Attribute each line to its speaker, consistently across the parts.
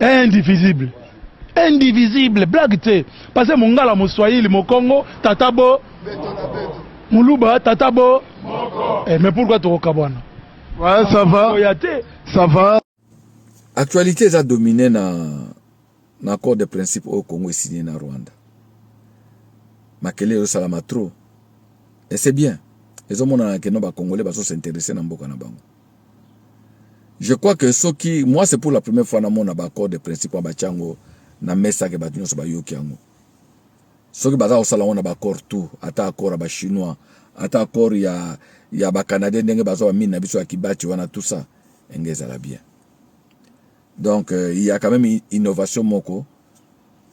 Speaker 1: indivisible indivisible blague te pase mongala moswahili mokongo tata bo muluba tata bo eh, mais pourquoi tokokabwana ouais, ça
Speaker 2: va oya te ça va actualité
Speaker 3: eza domine na na accord de principe oyo congo esigne na rwanda makele ezosalama trop et c'est bien ezomonana keno bacongolais bazosinteresse na mboka na bango Je crois que soki moi c'est pour la première fois namona ba accord de principe wana batya yango na mesa ke bato nyonso bayoki yango soki baza kosala yango na ba accord tout ata accord ya ba chinois ata accord ya, ya ba canadien ndenge baza bamine na biso ya kibati wana tout ça enge ezala bien donc euh, il y a quand même innovation moko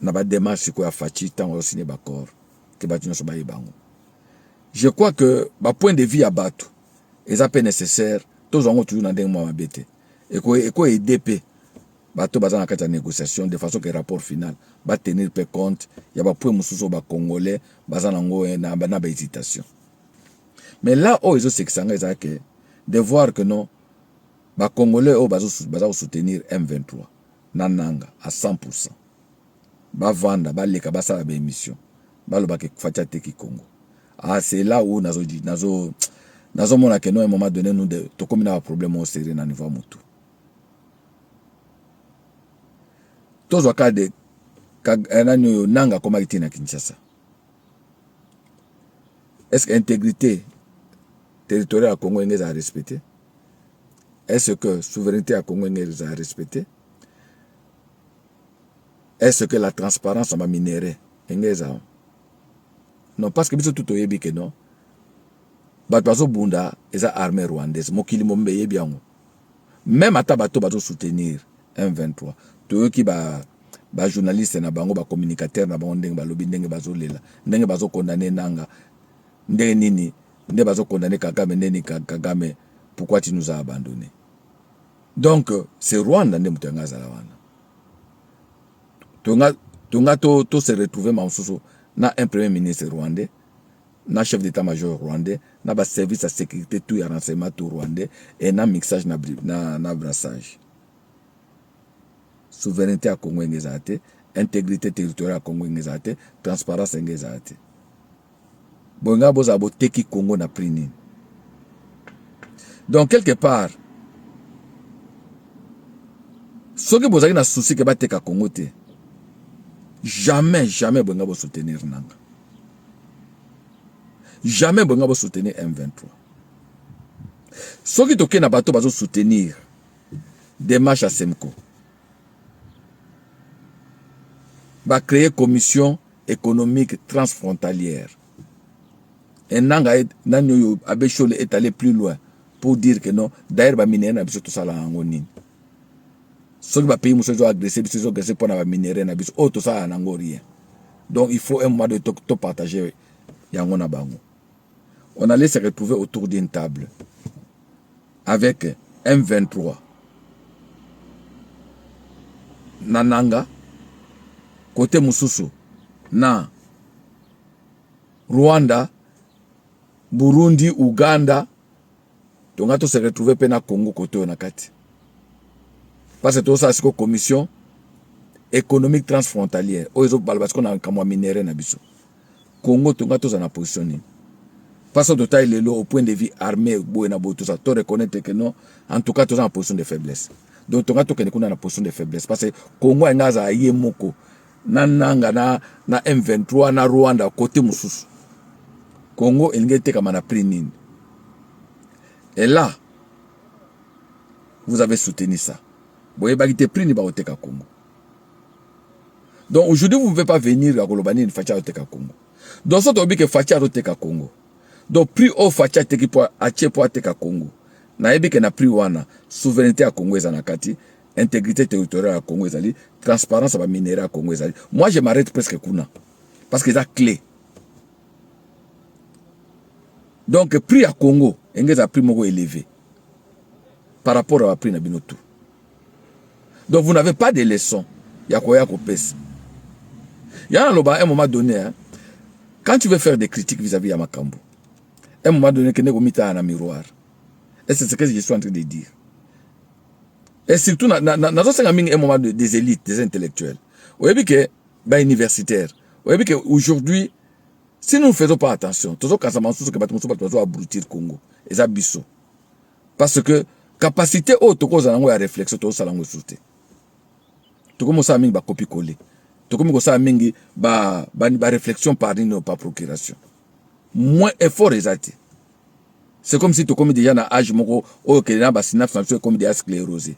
Speaker 3: na ba démarche sikoyo ya faci ntango azosigne ba accord ke bato nyonso bayeba yango je crois que ba point de vue ya bato eza pe necessaire tozwa yango toujours na ndenge mwa mabe te eko eko aider pe bato baza na kati ya négociation de façon que rapport final ba tenir pe compte ya ba points mosusu ba congolais baza na ngo eh, na, na ba hésitation mais là oyo ezo sekisa nga eza que de voir que non ba congolais oyo bazo baza ko soutenir M23 na nanga à 100% ba vanda ba leka ba sala ba emission ba loba ke fatshi ateki congo ah c'est là où nazo nazo nazo mona ke non un moment donné nous tokomi na ba problème au sérieux na niveau mutu tozwa ka de eh, nani oyo nanga akomaki te na kinshasa est ce que intégrité territoriale ya congo enge ezala respecte est ce que souveraineté ya congo enge ezala respecte est ce que la transparence na ba minerais enge ezala non parce que biso tout oyebi que non bato bazobunda eza armée rwandaise mokili mobimba eyebi yango meme ata bato bazosoutenir M23 toyoki ba ba journaliste na bango ba communicateur na bango ndenge balobi ndenge bazolela ndenge bazokondane nanga ndenge nini nde bazokondane kagame ndeni kagame pourquoi tu nous a abandonne Donc c'est Rwanda nde moto yanga azala wana tonga tonga to, to se retrouver ma mosusu na un premier ministre rwandais na chef d'état major rwandais na ba service ya sécurité tout ya renseignement tout rwandais et na mixage na, na, na brassage souveraineté ya Congo enge ezala te intégrité territoriale ya Congo enge ezala te transparence enge ezala te Bolinga bozala boteki Congo na prix nini? Donc quelque part soki bozali na souci ke bateka Congo te jamais jamais bolinga bo soutenir nanga jamais bolinga bo soutenir M23 soki toke na bato bazo soutenir démarche ya Semco ba créer commission economique transfrontalière. Et nanga et nani oyo Abbé Shole est allé plus loin pour dire que non, d'ailleurs ba minerais na biso tosala nango nini? Soki ba pays mosusu ezo agresser biso ezo agresser mpo na ba minerais na biso oyo tosala nango rien. Donc il faut un moment donné to partager yango na bango. on allait se retrouver autour d'une table avec M23 na nanga kote mosusu na Rwanda Burundi Uganda tonga to se retrouver mpe na Congo kote oyo na kati parce que tozosala sikoyo commission économique transfrontalière oyo ezobala basiko na makambo ya minere na biso Congo to nga toza na position nini pas to totali lelo au point de vue armée boye na boye toza to reconnaître que non en tout cas toza na position de faiblesse donc tonga tokende kuna na position de faiblesse parce que Congo alinga azala ye moko na nanga na, na M23 na Rwanda kote mosusu Congo elingi etekama na prix nini et là vous avez soutenu ça boyebaki te prix nini bakoteka Congo Donc aujourd'hui vous ne pouvez pas venir à Kolobani ni Facha Oteka Congo. Donc ça tobi que Facha Oteka Congo. Donc prix au Facha Teki po ache po Ateka Congo. Na yebi que na prix wana souveraineté à Congo ezana kati, intégrité territoriale à Congo ezali, transparence ba minerais à Congo ezali. Moi je m'arrête presque kuna parce que ça clé. Donc prix à Congo engeza prix moko élevé par rapport à prix na bino tout. Donc vous n'avez pas de leçons ya koya kopesa. Ya naloba un moment donné, hein, quand tu veux faire des critiques vis-à-vis -vis ya makambo, un moment donné kende komitala na miroir. Et c'est ce que je suis en train de dire. Et surtout, nazosenga mingi un moment de, des élites, des intellectuels. Oyebi que ba universitaires, oyebi que aujourd'hui si nous ne faisons pas attention, tozo kasama susu que bato mosusu bato bazo abrutir Congo. Eza biso. parce que capacité oyo tokozala yango ya réflexion tozosala yango lisusu te tokomi kosala mingi bakopi kole tokomi kosala mingi baréflexion ba, ba par nini par procuration moins effort eza te c'est comme si tokomi déjà na age moko oyo kende na basynapse na biso ekomi déjà sclérosé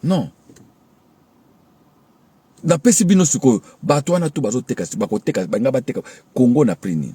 Speaker 3: non napesi bino sikoyo bato wana tu bazoteka bakoteka balinga bateka kongo na prix nini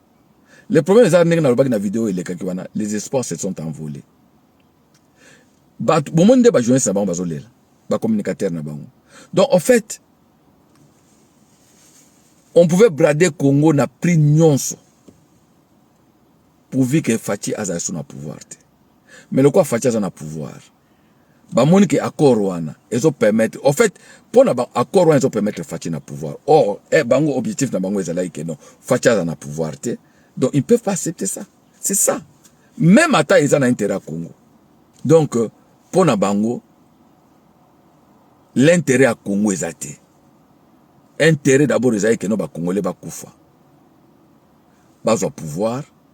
Speaker 3: Le problème eza ndenge nalobaki na video elekaki wana les espoirs se sont envolés bato bomoni nde bajournaliste na bango bazolela bacommunicateur na bango donc en fait on pouvait brader congo na prix nyonso pourvu que faci azala so na pouvoir te mais lokola faci aza na pouvoir ba moni ke accord wana ezo permettre au fait pona ba accord wana ezo permettre Fatshi na pouvoir or eh, bango objectif na bango ezalaki ke non Fatshi aza na pouvoir te donc ils peuvent pas accepter ça c'est ça même ata eza na intérêt ya Congo donc euh, pona bango l'intérêt ya Congo eza te intérêt d'abord ezalaki ke non ba congolais bakufa bazwa pouvoir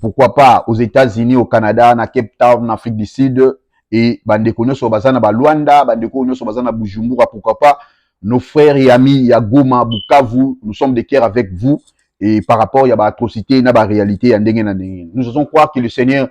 Speaker 4: pourquoi pas aux Etats-Unis, au Canada, na Cape Town, na Afrique du Sud, et bandeko nyoso baza na ba Luanda, bandeko nyoso baza na Bujumbura, pourquoi pas nos frères et amis ya Goma, Bukavu, nous sommes de cœur avec vous et par rapport ya ba atrocités na ba réalités ya ndenge na ndenge. Nous osons croire que le Seigneur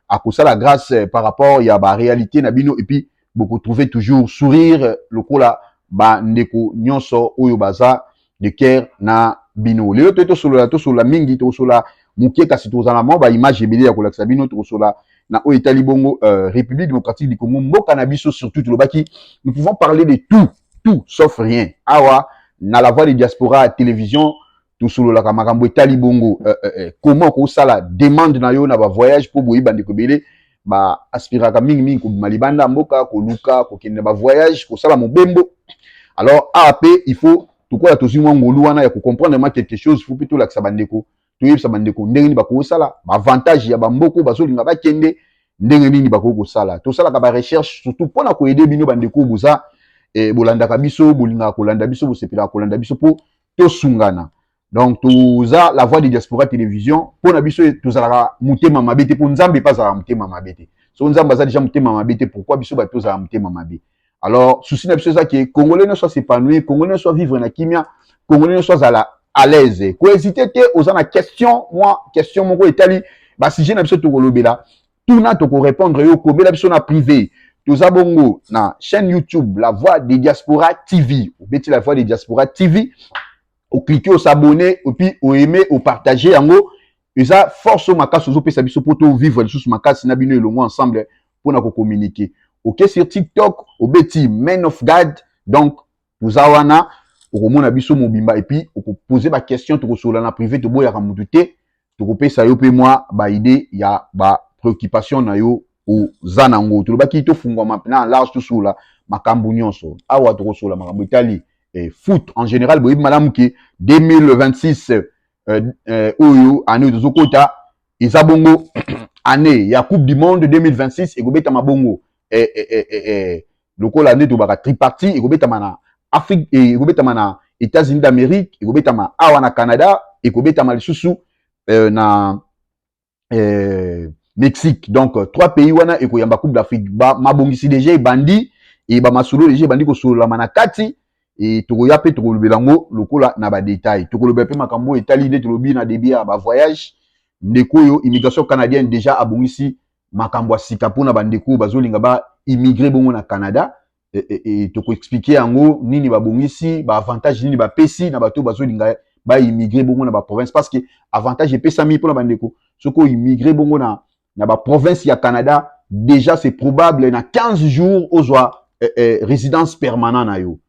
Speaker 4: akosala grâce par rapport ya ba réalités na bino et puis boko trouver toujours sourire lokola ba ndeko nyonso oyo baza de cœur na bino lelo toye tosolola tosolola mingi tosolola moke kasi tozala mwa ba image ebele ya kolakisa bino tosolola na oyo etali bongo uh, république démocratique du congo mboka na biso surtout tolobaki nous pouvons parler de tout tout sauf rien awa na la voix de diaspora télévision tosololaka makambo etali bongo eh, eh, eh. koma okosala demande na yo na bavoyage mpo boyi bandeko ebele baaspiraka mingimingi kobima libanda ya mboka koluka kokende na bavoyage kosala mobembo alors awa mpe il faut tokola tozwi mwa ngolu wana ya kocomprendre ma quelque chose fo mpe tolakisa bandeko toyebisa bandeko ndenge nini bakoki kosala baavantage ya bamboko bazolinga bakende ndenge nini bakoki kosala tosalaka barecherche surtout mpo na koyede bino bandeko boza eh, bolandaka biso bolingaka kolanda biso bosepelaka kolanda biso mpo tosungana donc toza la voix de diaspora télévision mpo na biso tozalaka motema mabe te mpo nzambe mpe azalaka motema mabe te so nzambe aza deja motema mabe te pourkui biso bato tozala motema mabe alors susi na biso eza ke congolais nyonso asepanouir congolais nyonso avivre na kimia congolais nyonso azala à l'aise kohésite te oza na question mwa question moko etali basujet na biso tokolobela tuna toko répondre yo komela biso na privé toza bongo na chaîne youtube la voix de diaspora tv obeti la voix de diaspora tv oclike osabonne epuis oaime opartage yango eza force oyo makasi ozopesa biso mpo tovivre lisusu makasi na bino elongo ensemble mpo na kokommunike oke sur tiktok obeti man of god donc toza wana okomona biso mobimba epuis okopose baquestion tokosolola na prive toboyaka motu te tokopesa yo mpe mwa baide ya bapreoccupation na yo oza na yango tolobaki tofungwama mpena large tosolola makambo nyonso awa tokosolola makambo etali eh, foot en général boyebi malamu ke 2026 eh, eh, oyo année oyo tozokota eza bongo année ya coupe du monde 2026 ekobetama bongo eh, eh, eh, eh, eh, lokola nde tobaka tripartie ekobetama na afrique eh, ekobetama na états-unis d'amérique ekobetama awa na canada ekobetama lisusu eh, na eh, mexique donc euh, trois pays wana ekoyamba coupe d'afrique mabongisi deja ebandi e bamasolo deja ebandi kosololama na kati e tokoya mpe tokolobela yango lokola na badetail tokolobela mpe makambo oyo etali nde tolobi na debut ya bavoyage ndeko oyo immigration canadienne deja abongisi makambo ya sika mpo na bandeko oyo bazolinga ba immigre bongo na Canada e, e, e, tokoexplike yango nini babongisi baavantage nini bapesi na bato oyo bazolinga ba immigre bongo na baprovince parce que avantage epesami mpo na bandeko soki oimmigre bongo na, na baprovince ya Canada déjà c'est probable na 15 jours ozwa eh, eh, résidence permanent na yo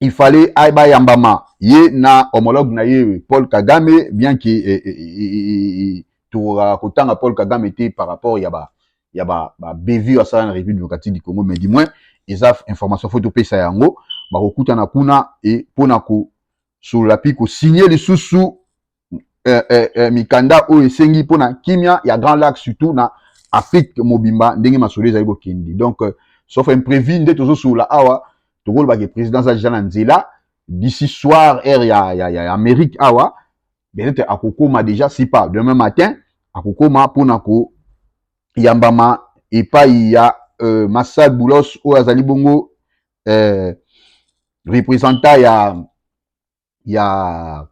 Speaker 4: il fallait ayeba yambama ye na homologue na ye Paul Kagame bien que eh, eh, eh, eh tokokaka kotanga Paul Kagame te par rapport ya ba ya ba, ba bevue asala na République démocratique du Congo mais du moins eza information faut topesa yango bakokutana kuna e mpo na kosolola mpe kosigne lisusu eh, eh, eh, mikanda oyo esengi mpo na kimia ya grand lac surtout na afrique mobimba ndenge masolo ezali kokende donc euh, sauf imprévu nde tozosolola awa tokolobaka président aza deja na nzela d'ici soir heure ya, ya, ya, ya amérique awa peut-être akokoma deja si pas demain matin akokoma mpo na koyambama epai ya euh, masal boulos oyo azali bongo euh, représentant ya ya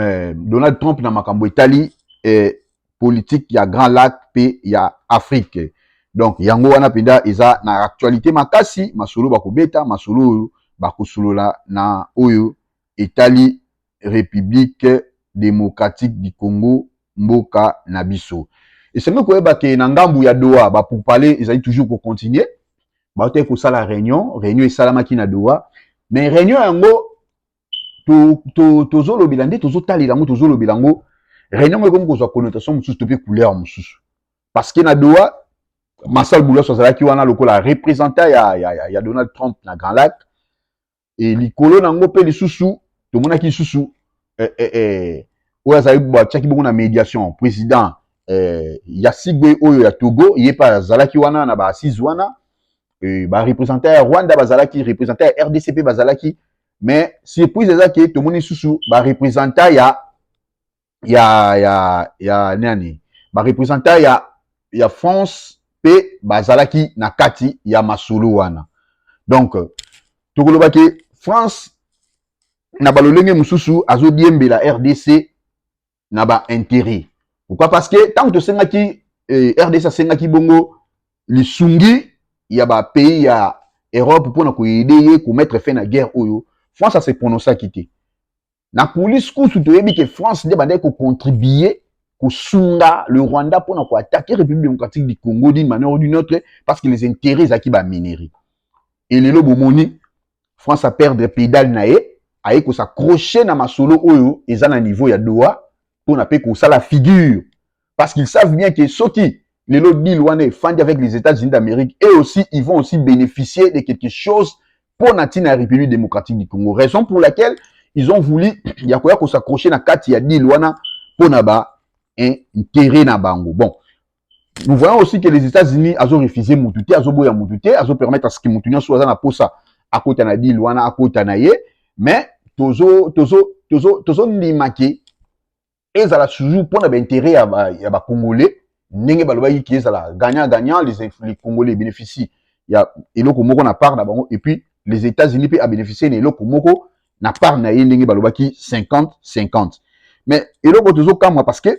Speaker 4: eh, Donald Trump na makambo etali eh, politique ya Grand Lac pe ya Afrique. Donc yango wana penda eza na actualité makasi, masolo bakobeta, masolo oyo bakosolola na oyo etali République démocratique du Congo mboka na biso. Esengeli koyeba ke na ngambu ya Doha ba pourparlers ezali toujours ko continuer bautaki kosala réunion réunion esalamaki na doha mais réunion yango tozolobela to, to nde tozotalela yango tozolobela yango réunion yango ekomi kozwa connotation mosusu to mpe couleur mosusu parce que na doha masal boulos azalaki wana lokola représentant ya, ya, ya, ya donald trump na grand lac e, likolo na yango mpe lisusu tomonaki lisusu eh, eh, eh, oyo azali batiaki bongo na médiation président eh, ya sigbe oyo ya togo ye mpe azalaki wana na baassise wana eh, barepresentant ya rwanda bazalaki representant ya rdc mpe bazalaki mais surprise eza ke tomoni lisusu barepresentant ya ya ya ya nani ba representant ya ya France pe bazalaki na kati ya masolo wana donc tokoloba ke France na balolenge mosusu azodiembela RDC na ba intérêt pourquoi parce que ntango tosengaki eh, RDC asengaki bongo lisungi ya ba pays ya Europe mpo na koyede ye komettre fin na guerre oyo France ase prononcaki te na coulisse kusu toyebi ke france nde bandaki kocontribue kosunga le rwanda mpo na koatake république démocratique du congo d'une manière ou d'une autre parce que les intérêts ezalaki baminerie e lelo bomoni france aperdre pédale na ye aye kosaccroche na masolo oyo eza na niveau ya doha mpo na mpe kosala figure parce qu'ils savent bien que soki lelo deal wana efandi avec les États-Unis d'Amérique et aussi ils vont aussi bénéficier de quelque chose pour la République démocratique du Congo. Raison pour laquelle ils ont voulu yakoya ko s'accrocher na kati ya deal wana pour na ba hein, intérêt na bango. Bon, nous voyons aussi que les États-Unis ont refusé Moutouté, ont boya Moutouté, ont permettre à ce que Moutouté soit dans posa à côté na deal wana à côté na ye, mais tozo tozo tozo tozo limaki ezala toujours pona ba intérêt ya ba, ya ba congolais ndenge balobaki ki ezala gagnant gagnant les, les congolais bénéficient ya eloko moko na part na bango et puis les États-Unis pe a bénéficier na eloko moko na part na ye ndenge balobaki 50 50 mais eloko tozo kamwa parce que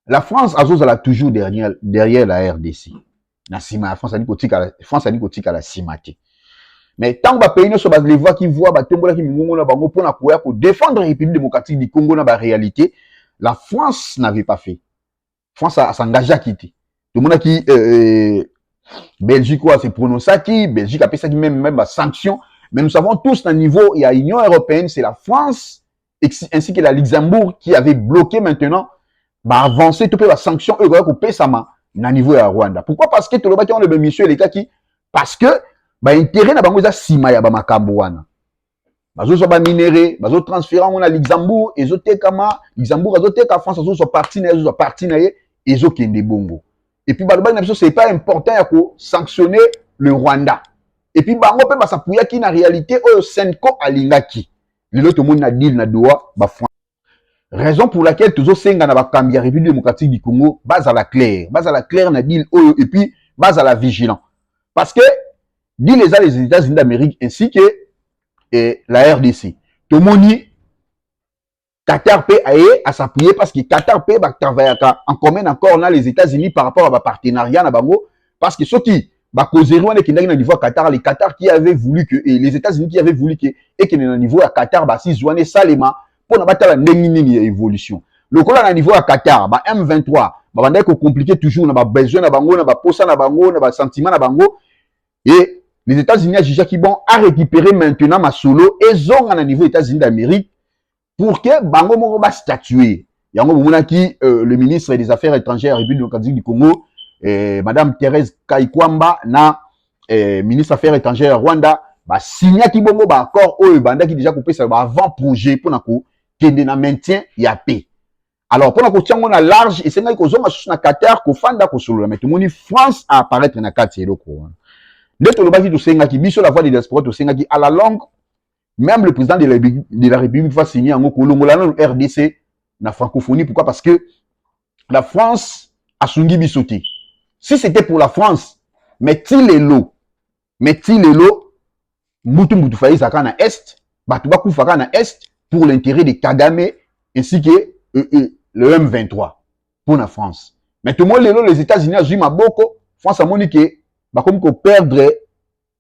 Speaker 4: la france azozala toujours derrière, derrière la rdc na nsima ya france ali kotikala france ali kotikala nsima te mais ntango bapays nyonso balevaki voi batombolaki mingongo na bango mpo na koya kodefendre république démocratique du congo na baréalité la france n'avait pas fait france asangageaki te tomonaki euh, euh, belgique oyo ase prononçaki belgique apesaki même, même basanction mais nous savons tous na niveau ya union européenne c'est la france ainsi que la Luxembourg qui avait bloqué maintenant ba avancée to pe ba sanction oyo ekoki kopesama na niveau ya Rwanda. Pourquoi? Parce que tolobaki wana bemission elekaki parce que ba intérêt na bango eza sima ya ba makambo wana. Bazozwa ba minerais, bazo transférer yango na Luxembourg, ezotekama, Luxembourg azoteka, France azozwa partie na ye, azozwa partie na ye, ezokende bongo. Et puis balobaki na biso c'est pas important ya ko sanctionner le Rwanda. Et puis bango pe basapuyaki na réalité oyo Senko alingaki. lelo tomoni na deal na doa ba raison pour laquelle tozosenga na bakambi ya république démocratique du congo bazala claire bazala claire na deal oyo et puis bazala vigilant parce que deal eza les états-unis d'amérique ainsi que eh, la rdc tomoni Qatar peut aller à s'appuyer parce que Qatar peut travailler en commun encore là les États-Unis par rapport à ba partenariat na bango Parce que soki ba causerie wana ekendaki na niveau ya Qatar, les Qatar qui avait voulu que et les États-Unis qui avaient voulu que ekende na niveau ya Qatar ba six wana esalema mpo na batala ndenge nini ya évolution. Lokola na niveau ya Qatar, ba M23 babandaki ko compliquer toujours na ba besoin na bango, na ba posa na bango, na ba sentiment na bango et les États-Unis ajugaki bon a récupérer maintenant masolo ezonga na niveau États-Unis d'Amérique pour que bango moko ba statuer yango bomonaki euh, le ministre des affaires étrangères république démocratique du congo euh, madame thérèse kaikwamba na euh, ministre affaires étrangères ya rwanda basignaki bongo baaccord oyo ebandaki déjà kopesa ba avant projet mpo na kokende na maintien ya paix alors mpo na kotia yango na large esengaki kozonga susu na qatar kofanda kosolola mai tomoni france a apparaître na kati ya eloko wana nde tolobaki tosengaki biso la voix de diaspora tosengaki à la longue Même le président de la, de la République va signer yango kolongola nanu RDC na francophonie. Pourquoi Parce que la France asungi biso te. Si c'était pour la France, mais ti lelo, mais ti lelo, mutu mutu fayi zaka na Est, bato bakufa kaka na Est pour l'intérêt de Kagame ainsi que euh, euh, le M23 pour la France. Mais tout le monde lelo les États-Unis azui maboko, France amoni que bakomi ko perdre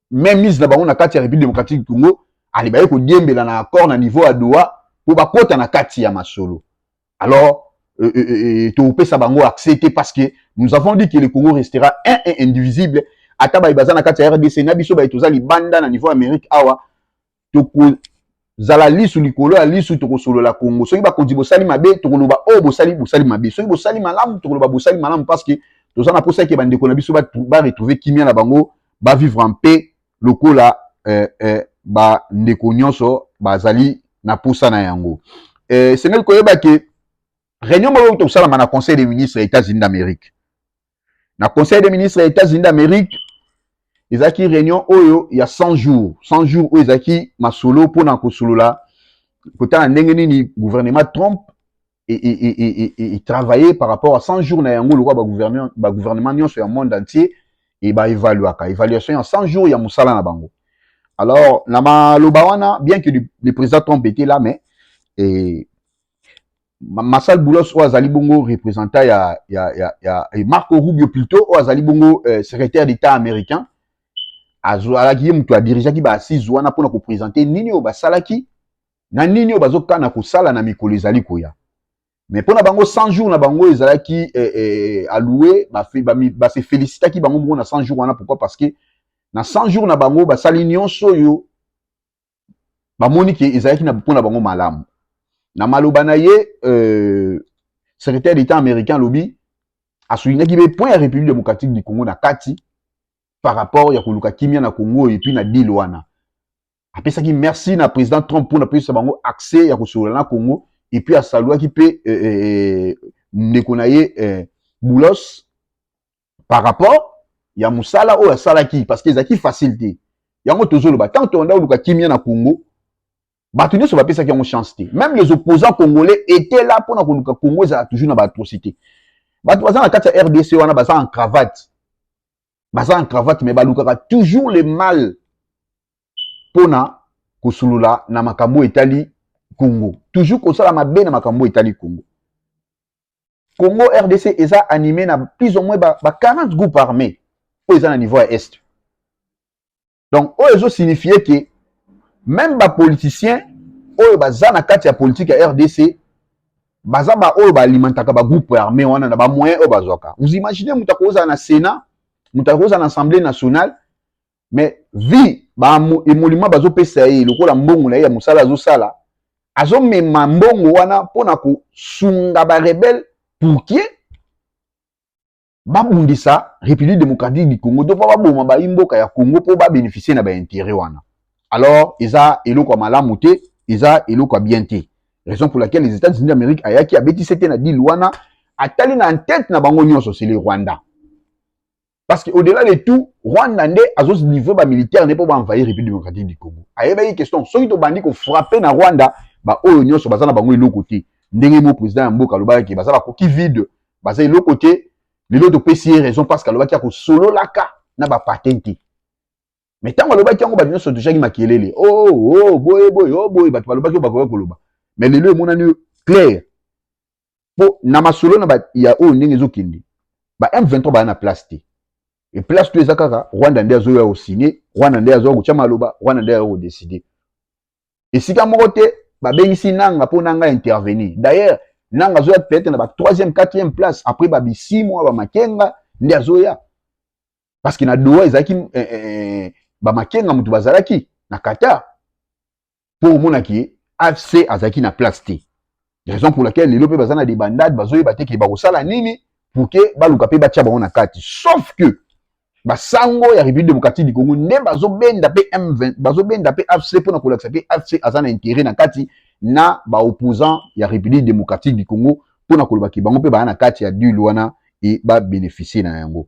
Speaker 4: même mise na bango na kati ya République démocratique du Congo alibaki kodiembela na accord na niveau ya Doha mpo bakota na kati ya masolo alors euh, euh, euh, euh topesa bango accès te parce que nous avons dit que le Congo restera un et indivisible ata baye baza na kati ya rdc na biso baye toza libanda na niveau ya amérique awa tokozala lisu likolo ya lisu tokosolola kongo soki bakonzi bosali mabe tokoloba oyo oh, bosali bosali mabe soki bosali malamu tokoloba bosali malamu parce que toza na posa eke bandeko na biso baretrouve kimia na bango bavivre en paix lokola eh, eh, bandeko nyonso bazali na posa na yango eh, esengeli koyeba ke réunion moko euta kosalama na conseil des ministres ya états-unis d'amérique na conseil des ministres ya états-unis d'amérique ezalaki réunion oyo ya 100 jours 100 jours oyo ezalaki masolo mpo na kosolola kotala ndenge nini gouvernement trump etravaille par rapport à 100 jours na yango lokola bagouvernement nyonso ya monde entier e baévaluaka évaluation ya 100 jours ya mosala na bango alors na maloba wana bien que le président trump était là mais Masal Boulos oyo azali bongo représentant ya, ya, ya, ya eh, Marco Rubio plutôt oyo azali bongo eh, secrétaire d'État américain azalaki ye moto adirigeaki ba assise wana mpona kopresente nini oyo basalaki na nini oyo bazokana kosala na mikolo ezali koya mais mpo na bango 100 jours na bango ezalaki eh, eh, alloue base ba, ba felicitaki bango bongo na 100 jours wana pourquoi parce que na 100 jours na bango basali nyonso oyo bamoni ke ezalaki na mpo na bango malamu na maloba na ye euh, secrétaire d'état américain alobi asoulinaki mpe point ya république démocratique du congo na kati par rapport ya koluka kimia na congo oyo epuis na deal wana apesaki merci na président trump mpo na pesa bango accès ya kosolola na congo epuis asaluaki mpe euh, euh, euh, ndeko na ye euh, boulos par rapport ya mosala oyo asalaki parce que ezalaki facile te yango tozoloba ntango tolanda oluka kimia na congo bato nyonso bapesaki yango chance te même les opposants congolais étaient là mpo na koluka congo ezala toujours na baatrocité bato baza na kati ya rdc wana baza en cravate baza en cravate mais balukaka toujours le mal mpo na kosolola na makambo etali congo toujours kosala mabe na makambo etali congo Congo RDC eza anime na plus ou moins ba, ba 40 groupes armés oyo eza na niveau ya est. Donc oyo ezo signifier que même ba politiciens oyo baza na kati ya politique ya RDC baza ba oyo ba alimentaka ba groupes armés wana na ba moyens oyo bazwaka. Vous imaginez mutu akozala na Sénat, mutu akozala na Assemblée nationale mais vie ba emolima bazopesa ye lokola mbongo na ye ya mosala azosala azomema mbongo wana mpo na kosunga barebele pourkie babundisa république démocratique du congo to mpo baboma bayi mboka ya congo mpo babénéficie na baintérêt wana alors eza eloko ya malamu te eza eloko ya bien te raison pour laquelle les états-unis d'amérique ayaki abetisi te na dile wana atali na ntete na bango nyonso c'est le rwanda Parce que au-delà de tout, Rwanda nde azo livrer ba militaires ne po ba envahir République démocratique du Congo. Ayebaki question soki to bandi ko frapper na Rwanda, ba oyo nyonso baza na bango eloko te. Ndenge mo président ya mboka alobaki ke baza ba koki vide, baza eloko te. Lelo to pesi ye raison parce que alobaki ako sololaka na ba patins te. Mais tango alobaki yango bato nyonso tujaki makelele. Oh oh boye boye oh boye bato balobaki oyo bakoki koloba. Mais lelo emonani clair. mpo na masolo na ba, ya oyo ndenge ezokende ba M23 baya na place te e place to eza kaka Rwanda nde azoya kosigne Rwanda nde azoya kotya maloba Rwanda nde azoya kodeside esika moko te babengisi nanga mpo nanga intervenir d'ailleurs nanga azoya peut-être na ba troisième quatrième place après ba bisimwa ba makenga nde azoya parce que na doha ezalaki eh, eh, eh, ba makenga moto bazalaki na qatar mpo omona ke afc azalaki na place te raison pour laquelle lelo mpe baza na debandade bazoyeba te ke bakosala nini pour ke baluka mpe batya bango na kati sauf que basango ya république démocratique du congo nde bazobenda mpe m20 bazobenda mpe afc mpo na kolakisa ke afc aza na intérêt na kati na baopposant ya république démocratique du congo mpo na kolobaki bango mpe baya na kati ya dule wana e babénéficie na yango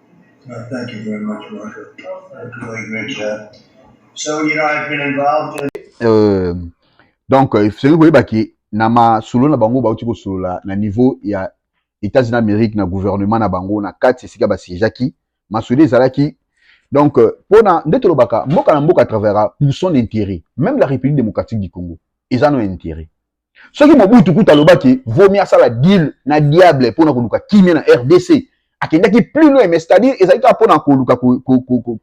Speaker 5: Well, thank you very much, Marshall. That's a really great job. So, you know, I've been involved in. Euh,
Speaker 4: donc, euh, soki koyeba ke na masolo na bango bauti kosolola na niveau ya États-Unis d'Amérique na gouvernement na bango na kati esika basiégeaki masolo ezalaki donc euh, mpona nde tolobaka mboka na mboka travaillera pour son intérêt même la république démocratique du congo eza no intérêt soki mobutu kutu alobaki vomi asala deal na diable mpo na koluka kimia na rdc akendaki plus loin mais c'est-à-dire ezali kaka mpo na koluka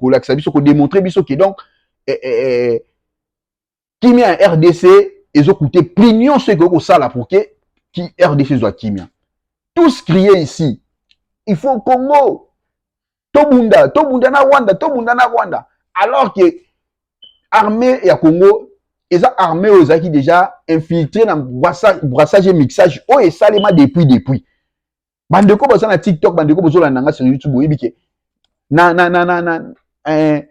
Speaker 4: kolakisa biso kodemontre biso ke donc eh, eh, eh, kimia ya rdc ezokute prix nyonso ekoki kosala pour ke ki rdc ezwa kimia tous crie ici il faut congo tobunda tobunda na rwanda tobunda na rwanda alors que armée ya congo eza armée oyo ezalaki déjà infiltré na brassage et mixage oyo esalema depuis depuis bandeko baza na tiktok bandeko bozolanda nga sur youtube oyebi ke na, na, na, na, na, eh,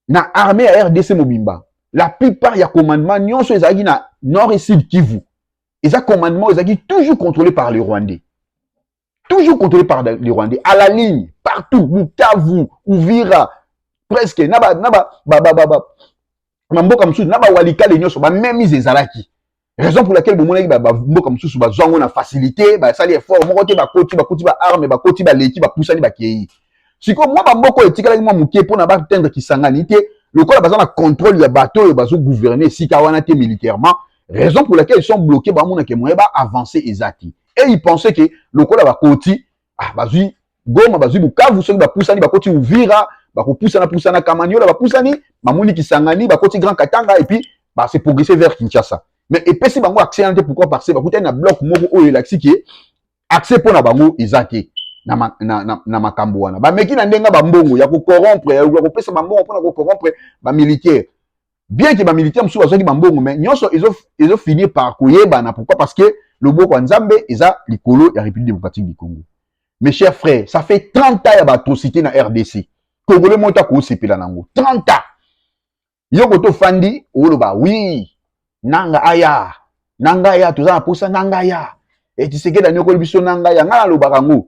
Speaker 4: na armée ya rdc mobimba la plupart ya commandement nyonso ezalaki na nord et sud kivu eza commandement ezalaki toujours contrôlé par le rwandais toujours contrôlé par les Rwandais à la ligne partout Bukavu Uvira presque na ba na ba ba ba ba na mboka mosusu na ba walikale nyonso ba memise ezalaki raison pour laquelle bomonaki ba mboka mosusu bazwa yango na facilité basali effort moko te bakoti bakoti ba arme bakoti baleki bapusani bakei sikoyo mwa bamboka oyo etikalaki mwa moke mpo na batendre kisangani te lokola baza na contrôle ya bato oyo bazo gouverner esika wana te militairement raison pour laquelle ils sont bloqués bamonake moyen ba avancer eza te et il pensait que lokola bakoti ah, bazwi goma bazwi bukavu soki bapusani bakoti uvira bakopusana pusana kamaniola bapusani mamuni kisangani bakoti grand katanga et puis bah, c'est progressé vers Kinshasa. Mais epesi bango accès ante pourquoi parce que bakutani na bloc moko oyo elakisi ke accès mpo na bango eza te na, ma, na, na, na makambo wana bameki na ndenge bambongo ya kokorompre ya kopesa bambongo mpo na kokorompre bamilitaire bien que ba militaires mosusu bazwaki ba mbongo mais nyonso ezo ezo finir par koyebana pourquoi parce que loboko ya Nzambe eza likolo ya République démocratique du Congo mes chers frères ça fait 30 ans ya ba atrocité na RDC congolais moko te akosepela nango 30 ans yo kote ofandi oloba wi nanga aya nanga aya toza na posa nanga aya etisekedi anyokoli biso nanga aya ngai nalobaka yango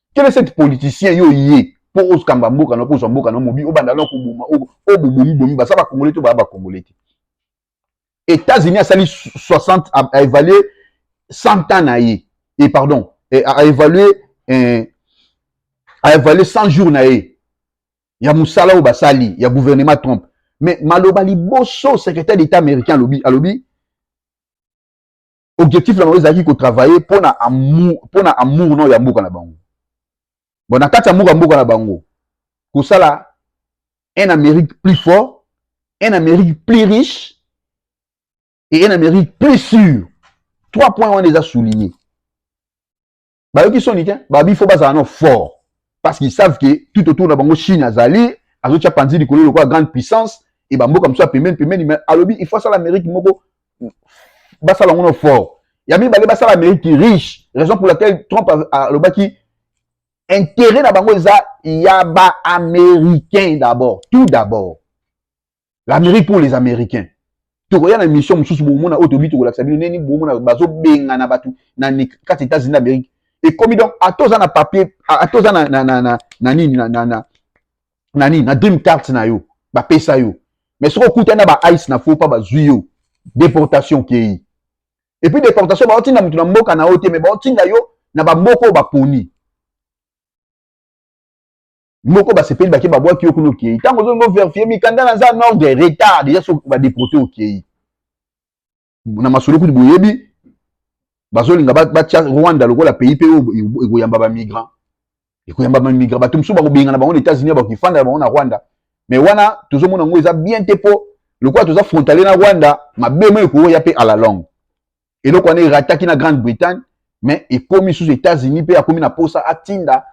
Speaker 4: quel est cette politicien yo ye mpo ozkamba mboka na mpo ozwa mboka na mobi obanda na koboma o bobomi bomi baza bakongole to baya bakongole te états-unis asali 60 a évalue 100 ans na ye e pardon a évalue eh, a évalue 100 jours na ye ya mosala oyo basali ya gouvernement trump mais maloba liboso secrétaire d'état américain alobi alobi objectif na bango ezalaki kotravaille mpo na amour mpo na amour nao ya mboka na bango bon na kati ya mboka mboka na bango kosala un amérique plus fort un amérique plus riche et un amérique plus sûr trois points wana eza souligne bayoki soni te babi fo bazala no fort parce qu'ils savent que tout autour na bango chine azali azotya panzi likolo lokola grande puissance e bamboka mosusu ya pembeni pembeni mais alobi il faut asala amérique moko basala yango no fort ya mibale basala amérique riche raison pour laquelle trump alobaki intérêt na bango eza ya baaméricain d'abord tout d'abord l'amérique pour les américains tokoya na mission mosusu bomona oyo tobi tokolakisa bino neni bomona bazobengana bato na kati états-unis d'amérique ekomi donc ata oza na papier ata oza na, na, na, na, na nini na, na, na, na nini na dream carte na yo bapesa yo mais soki okutani na ba ice na faux pas bazwi yo deportation okei et puis deportation baotinda moto na mboka na yo te mais baotinda yo na bamboka oyo baponi moko basepeli bake babwaki yo kuna okei ntango ozongi boverifie mikanda na za nordre retard deja so badeporte okei na masolo kutu boyebi bazolinga batya rwanda lokola pays mpe oyo ekoyamba bamigrant ekoyamba bamigrant bato mosusu bakobengana bango na états-unis bakofanda na bango na rwanda me wana tozomona yango eza bien te mpo lokola toza frontalier na rwanda mabe mo ekoya mpe à la longue eloko wana erataki na grande bretagne mais ekomi sous états-unis mpe akomi na posa atinda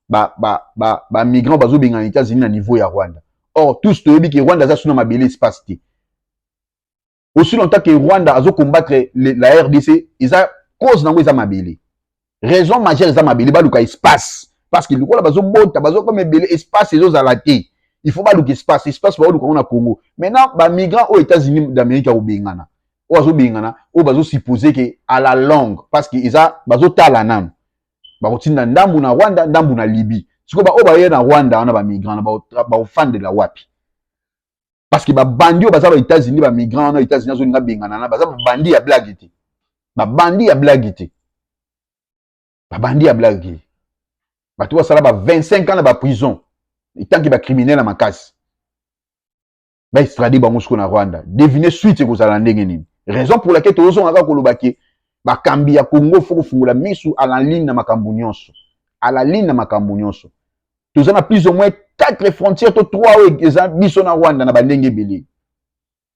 Speaker 4: bamigrant ba, ba, ba, ba bazobenga na états-unis na niveau ya rwanda or tous toyebi ke rwanda aza suna mabele espace te aussi longtemps que Rwanda azo combattre la RDC eza cause nango eza mabele raison majeure eza mabele baluka espace parce que lokola bazobota bazokoma ebele espace ezozala te il faut baluka espace espace baoluka yango na congo maintenant bamigrant oyo états-unis d'amérique ya kobengana oyo azobengana oyo bazosupose ke à la longue parce que eza bazotala nanu bakotinda ndambu na rwanda ndambu na libye sikoyo baoyo baye na rwanda wana bamigrant na baofandela wapi parce que babandi oyo baza ba états-unis bamigrant wana états-unis azolinga bengana na baza babandi ya blague te babandi ya blague te babandi ya blague te bato basala ba 25 ans na baprison etanke bacriminel ya makasi baestrade bango siko na rwanda devine suite ekozala ndenge nini raison pour laquelle tozozonga kaka koloba ke bakambi ya congo fo kofungola misu alaline na makambo nyonso alaline na makambo nyonso toza na plus ou moins quatre frontières to trois oyo eza biso na rwanda na bandenge ebele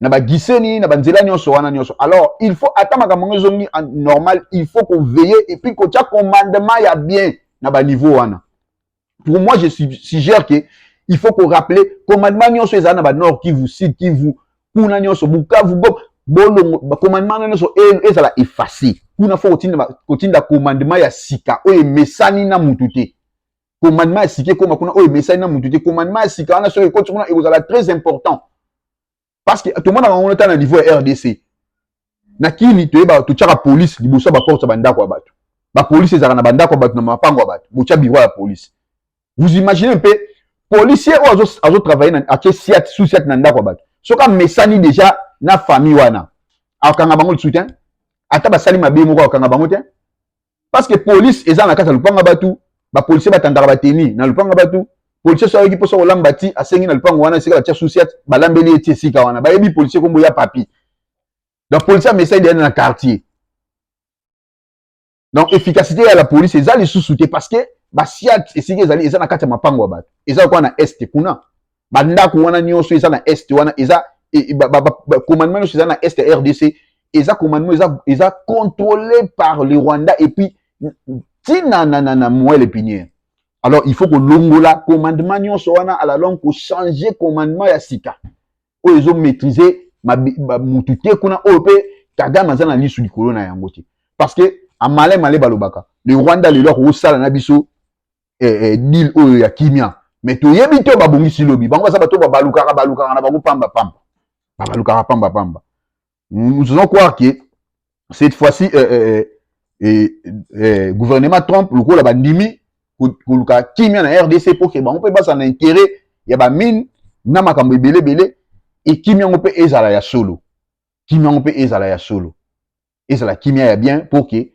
Speaker 4: na bagiseni na banzela nyonso wana nyonso alors il faut ata makambo yango ezongi normal il faut koveille et puis kotya commandement ya bien na baniveau wana pour moi je suggère que il faut korappeler commandement nyonso ezala na banord kivu sud kivu kuna nyonso bukavu gom bolongo bacommandement wana nyonso e, ezala efface kuna fo kotinda commandement ya sika oyo emesani na mutu te commandement ya sika ekoma kuna oyo emesani na moto te commandement ya sika wana soki ekoti kuna ekozala très important parce que tomonaka yango ta na niveau ya rdc na kini toyeba totyaka polise liboso ya baporte ya bandako ya bato bapolisi ezalaka na bandako ya bato na mapango ya bato botya biro ya polise vous imaginez mpe policier oyo azotravaille atye siat sous siat na ndako ya bato soki amesani déjà na famille wana akanga bango lisusu te ata basali mabe moko akanga bango te parce que police eza na kati ya lupanga batu ba policier batandaka bateni na lupanga batu policier so ayoki mposa kolamba ti asengi na lupango wana esika batya susiat balambeli ye ti esika wana bayebi policier kombo ya papi donc policier amesai deya na quartier donc efficacité ya la police eza lisusu te parce que basiat esika ezali eza na kati ya mapango ya bato eza lokola na este kuna ba ndako wana nionso eza na est wana eza e, ba, ba, ba, ba commandement nionso eza na est ya rdc eza commandement eza, eza contrôlé par le rwanda et puis tina na, na, na moelle épinière alors il faut kolongola commandement nionso wana à la longue kochanger commandement ya sika oyo ezo maîtriser mutu te kuna oyo mpe kagame aza na lisu likolo na yango te parce que amalin male balobaka le rwanda lelo akokosala na biso eh, eh, deal oyo ya kimia me toyebi te babongisi lobi bango baza bato babalukaka balukaka na bango pamba pamba babalukaka pamba pamba nous faisons croire que cette fois-ci eh, eh, eh, eh, gouvernement trump lokola bandimi koluka kimia na rdc mpo ke bango mpe bazala na intérêt ya bamine na makambo ebele ebele ekimi yango mpe ezala ya solo kimi yango mpe ezala ya solo ezala kimia ya bien mpo ke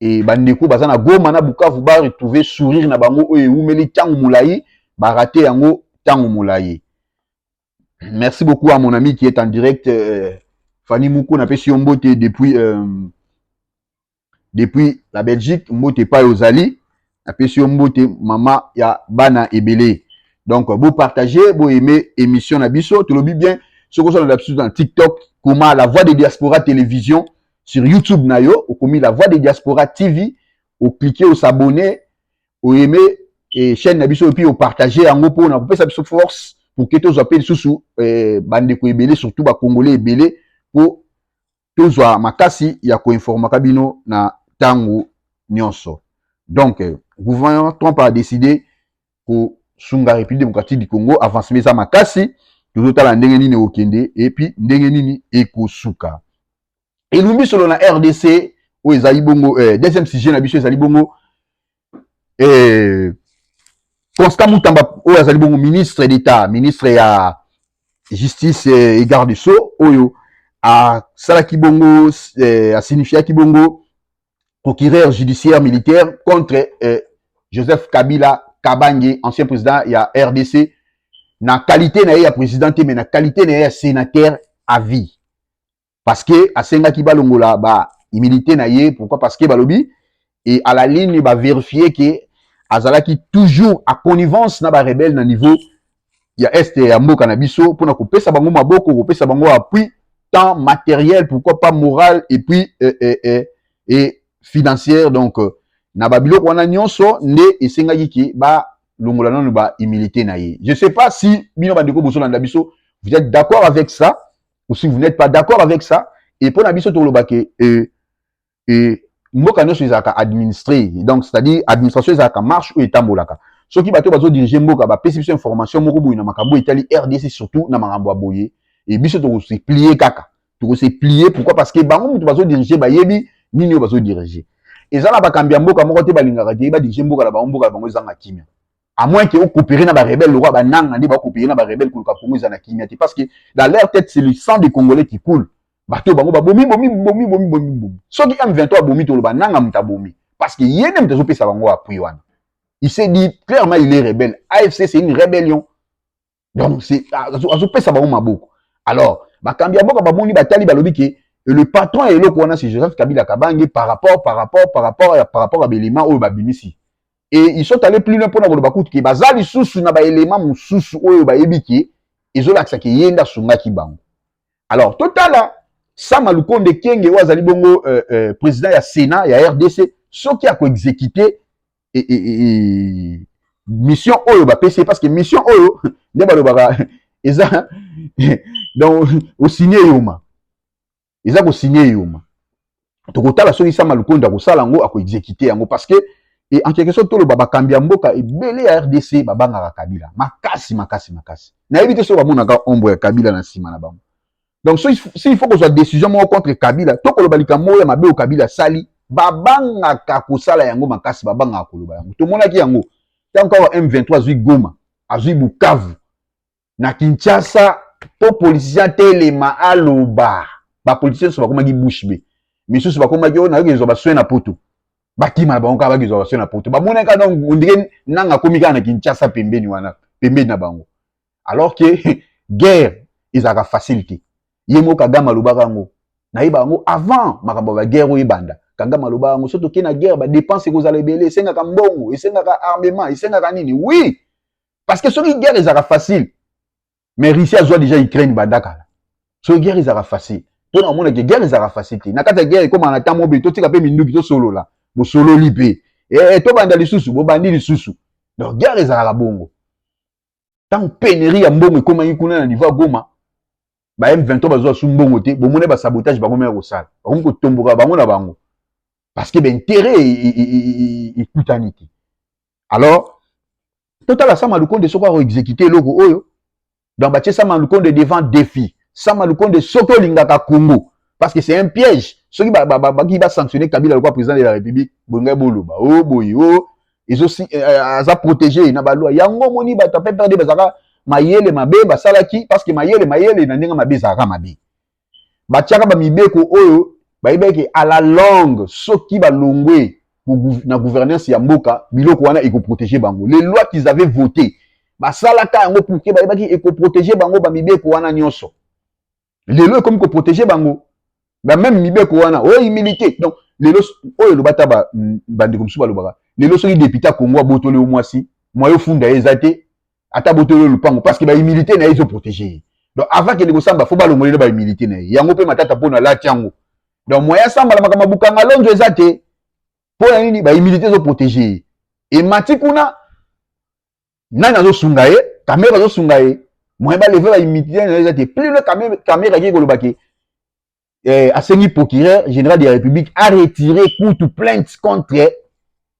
Speaker 4: e, bandeko baza na goma na bukavu ba retrouve sourire na bango oyo ewumeli ntango molai barate yango ntango molai merci beaucoup à mon ami qui est en direct euh, fanny moko napesi yo mbote depuis euh, depuis la belgique mbote epai ozali napesi yo mbote mama ya bana ebele donc bo partager bo aimer émission na biso tolobi bien soki ozana na biso na tiktok koma la voix de diaspora télévision sur youtube na yo okomi la voix de diaspora tv oclike osabonne oaime e chaîne na biso epuis opartage yango mpo na kopesa biso force pour ke tozwa mpe lisusu eh, bandeko ebele surtout bacongolais ebele mpo tozwa makasi ya koinformaka bino na ntango nyonso donc gouvernement trump a décide kosunga république démocratique du congo avancement eza makasi tozotala ndenge nini ekokende epuis ndenge nini ekosuka elumbi solo na rdc oyo ezali bongo eh, deuxième sujet na biso ezali bongo eh, constant mutamba oyo azali bongo ministre d'état ministre ya justice eh, et garde sceaux oyo asalaki bongo eh, asignifiaki bongo procureur judiciaire militaire contre eh, joseph kabila kabange ancien président ya rdc na qualité na ye ya président te mais na qualité na ye ya sénateur à vie parce que asengaki balongola ba humilité na ye pourquoi parce que balobi et à la ligne ba vérifier que azalaki toujours à connivence na ba rebelle na niveau ya est ya mboka na biso pona kopesa bango maboko kopesa bango appui tant matériel pourquoi pas moral et puis euh, euh, euh, et financière donc euh, na ba biloko wana nyonso nde esengaki ke ba longola nanu ba humilité na ye je sais pas si bino bandeko bozolanda biso vous êtes d'accord avec ça ou si vous n'êtes pas d'accord avec ça et pona biso toloba ke euh, euh, mboka nyonso ezalaka administré donc c'est-à-dire administration ezalaka marche oyo etambolaka soki bato bazo dirige mboka bapesi biso information moko boye na makambo etali rdc surtout na makambo ya boye e biso tokose plie kaka tokose plie pourquoi parce que bango moto bazo dirige bayebi nini oyo bazo dirige eza na bakambi ya mboka moko te balingaka te badirige mboka na bango mboka na bango ezanga kimia à moins que coopérer na ba rebelles lokola ba nanga nde ba coopérer na ba rebelles koluka Congo eza na kimia te parce que dans leur tête c'est le sang des Congolais qui coule bato bango babomi bomi bomi bomi bomi bomi soki M23 abomi toloba nanga moto abomi parce que ye nde moto azopesa bango appui wana il s'est dit clairement il est rebelle AFC c'est une rébellion donc azopesa bango maboko alors bakambi ya mboka bamoni batali balobi ke le patron ya eloko wana c'est joseph kabila kabange par rapport par rapport par rapport par rapport ya baelema oyo babimisi e ils sont allés plus loin mpona koloba kutu ke baza lisusu na baelema mosusu oyo bayebi ke ezolakisa ke ye nde asungaki bango alors totala sama lukonde kenge oyo azali bongo euh, euh, président ya sénat ya rdc soki akoexécute e, e, e, e, mission oyo bapesi ye parce que mission oyo nde balobaka eza donc osigne eyoma eza kosigne eyoma tokotala soki sama lukonde akosala yango akoexekite yango parce que e, en quelque sorte toloba bakambi ya mboka ebele ya rdc babangaka kabila makasi makasi makasi nayebi te soki bamonaka ombo ya kabila na nsima na bango donc soki si il faut kozwa décision moko contre kabila to koloba likambo moko ya mabe oyo kabila asali babangaka kosala yango makasi babangaka koloba yango tomonaki yango ntango kaka m23 azwi goma azwi bukavu na kinshasa mpo politicien atelema aloba bapoliticien nyonso bakomaki bouche be misusu bakomaki oyo oh, nayoki ezwa baswe na poto bakima na bango kaka bakezwa baswe na poto bamonaki kaka ondire nanga akomi kaka na kinshasa pembeni wana pembeni na bango alors que guerre ezalaka facile te ye moko kagame alobaka yango nayeba yango avant makambo ya baguerre oyo ebanda kagame alobaka yango soki tokei na guerre badepense ekozala ebele esengaka mbongo esengaka armement esengaka nini oui parce que soki guerre ezalaka facile mais russie azwa déjà ukraine banda kala soki guerre ezalaka facile mpona omonake guerre ezalaka facile te na kati ya guerre ekomaka na ntango mobe totika mpe minduki tosolola bosololi mpe e, tobanda lisusu bobandi lisusu donc guerre ezalaka bongo ntango penerie ya mbongo ekomaki kuna na niveau ya goma ba m23 bazwa su mbongo te bomona ba sabotage bango mea kosala bakomi kotomboka bango na bango parce que baintérêt ekutani te alors totala sama lukonde soki akoexekute eloko oyo donc batie sama lukonde devant défi sama lukonde soki olingaka congo parce que c'est un piège soki baki basanctionne kabila lokwa président de la république bolingai boloba o oh, boye o oh. ezosi eh, eh, aza protege na balwa yango omoni bato ya pprd bazalaka mayele mabe basalaki parceke mayele mayele na ndenge mabe ezalaka mabe batiaka bamibeko oyo bayebaki à la longue soki balongwe na gouvernance ya mboka biloko wana ekoprotege bango les lois qu'ils avaient voté basalaka yango pourke bayebaki ekoprotege bango bamibeko wana nyonso lelo ekomi ko protéger bango ba même mibeko wana oyo humilité donc lelo oyo eloba ata bandeko mosusu balobaka lelo soki député ya congo abotoli yo mwasi mwayo funda ye eza te ata abotoli yo lopango parce que bahumilité na ye ezoprotege ye donc avant kende kosamba fo balongolele bahumilité na ye yango mpe matata mpo na lati yango donc moyen asambala makambo mabukanga lonzo eza te mpo na nini bahumilité ezoprotege ye emati kuna nani azosunga ye kamere bazosunga ye moyen baleve baimidite na eza te plus le kamere akei koloba ke eh, asengi procureur général de la république aretire kutu plainte contre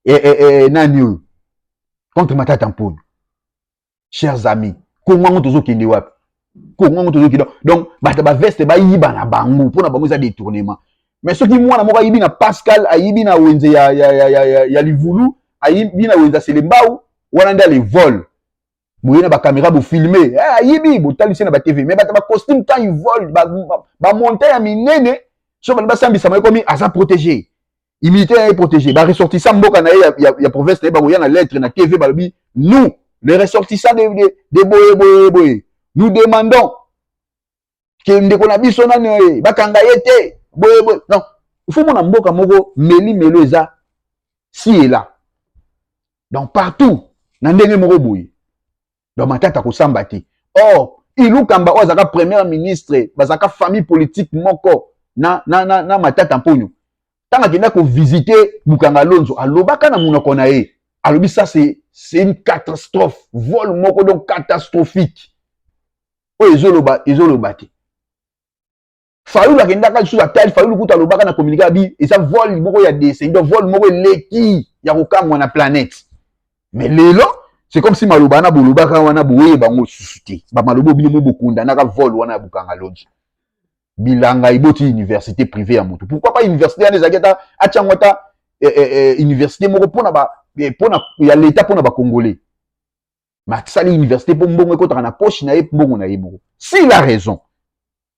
Speaker 4: eh, eh, eh, nani oyo contre matata mpona chers amis kongo yango tozokende wapi kongo yango tozoki donc donc bato ya baveste bayiba na bango mpo na bango eza détournement mais soki mwana moko ayibi na pascal ayibi na wenze ya, ya, ya, ya, ya, ya livulu ayibi na wenze ya selembau wana nde alevole boye na bakamera bofilme eh, ayibi botali se na batv mais bato bacostume quand ivole bamonta ya minene so bali basambisama ekomi aza protégé Humilité ya protégé. Ba ressortissants mboka na ya, ya, ya province na ba koya na lettre na TV balobi nous les ressortissants de de, de boye boye boye. Nous demandons que ndeko na biso nani oye bakanga ye te boye boye. Non, il faut mona mboka moko meli melo eza si et là. Donc partout na ndenge moko boye. donc matata kosamba te or ilukamba oyo azalaka premier ministre bazalaka famille politique moko na, na, na, na matata mponyo ntango akenda kovisite bukanga lonzo alobaka na monoko na ye alobi ça c'est c'est une catastrophe vol moko donc catastrophique oyo ezoloba ezoloba te fayulu akendaka lisusu atali fayulu kutu alobaka na communika bi eza vol moko ya descendo vol moko eleki ya kokamwa na planète mais lelo c'est comme si maloba wana bolobaka wana boye bango lisusu te bamaloba obino mo bokundanaka vol wana ya bukanga lonji bilanga eboti université privée ya motu pourquoi pas université wana ezalaki ata atya yango ata eh, eh, eh, université moko mpona ba eh, pona, ya leta mpona bacongolais mais asali université mpo mbongo ekotaka na poche na ye mbongo na ye moko si la raison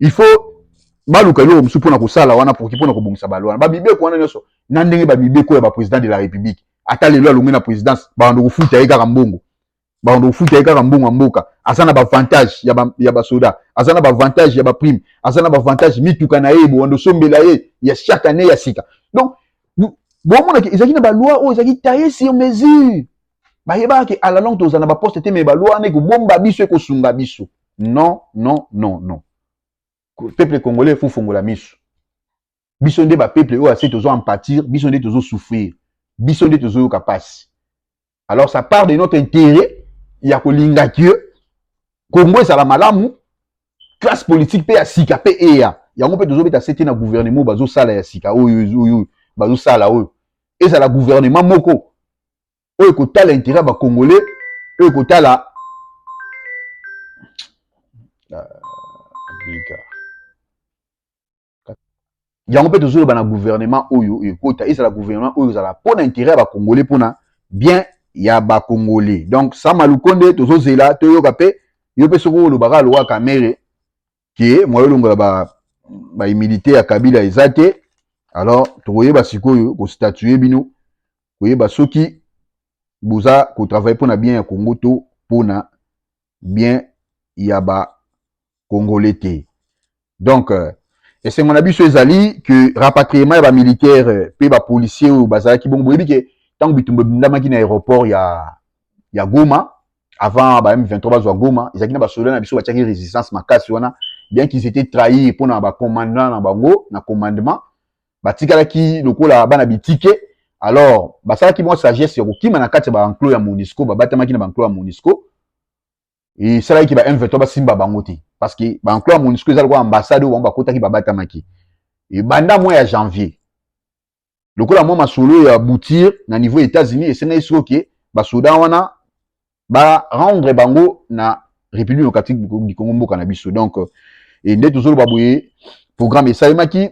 Speaker 4: il faut baluka eloko mosusu mpona kosala wana poki mpona kobongisa balo wana bamibeko wana nyonso na ndenge bamibeko ya baprésident de la république ata lelo alongi na présidence babanda kofuta ye kaka mbongo babanda kofuta ye kaka mbongo ya mboka aza na bavantage ya basoda aza na bavantage ya baprime aza na bavantage mituka na ye bobanda osombela ye ya chaque année ya sika donc bomonaki ezalaki na baloi oyo ezalaki taille sur mesure bayebaka ke ala longue tozala na baposte te me balwa wana ekobomba biso ekosunga biso non non non non peuple congolais efufungola miso biso nde bapeuple oyo ase tozo empatir biso nde tozo souffrir biso nde tozoyoka mpasi alors ça part de notre intérêt ya kolinga ke congo ezala malamu classe politique mpe ya sika mpe eya yango mpe tozobeta sete na gouvernement oyo bazosala ya sika oyo oyo bazosala oyo ezala gouvernement moko oyo ekotala intérêt ya bacongolais oyo ekotala biga ah, yango mpe tozoloba na gouvernement oyo ekota ezala gouvernement oyo ezala mpo na intérêt ya bacongolais mpo na bien ya bacongolais donc sama lukonde tozozela toyoka mpe yo mpe soki olobaka lowa kamere ke moyen olongola ba ba humilité ya Kabila eza te alors tokoyeba sikoyo ko statuer bino koyeba soki boza ko travailler pona bien ya Congo to pona bien ya ba congolais te donc euh, esengo na biso ezali que rapatriement ya bamilitaire mpe bapolicier oyo bazalaki bongo boyebi ke ntango bitumba ebindamaki na aéroport ya ya Goma avant ba M23 bazwa Goma ezalaki na basoda na biso batiaki resistance makasi wana bien qu'ils étaient trahis mpo na bacommandant na bango na commandement batikalaki lokola bana bitike alors basalaki mwa sagesse ya kokima na kati ya baenclos ya monisco babatamaki na baenclos ya monisco esalaki ba M23 basimba bango te parce que baenclos ya monisco eza lokola ambassade oyo bango bakotaki babatamaki ebanda mwa ya janvier lokola mwa masolo ya boutir na niveau ya états-unis esengaki siko ke basoda wana barendre bango na république démocratique du congo mboka na biso donc e nde tozoloba boye programme esalemaki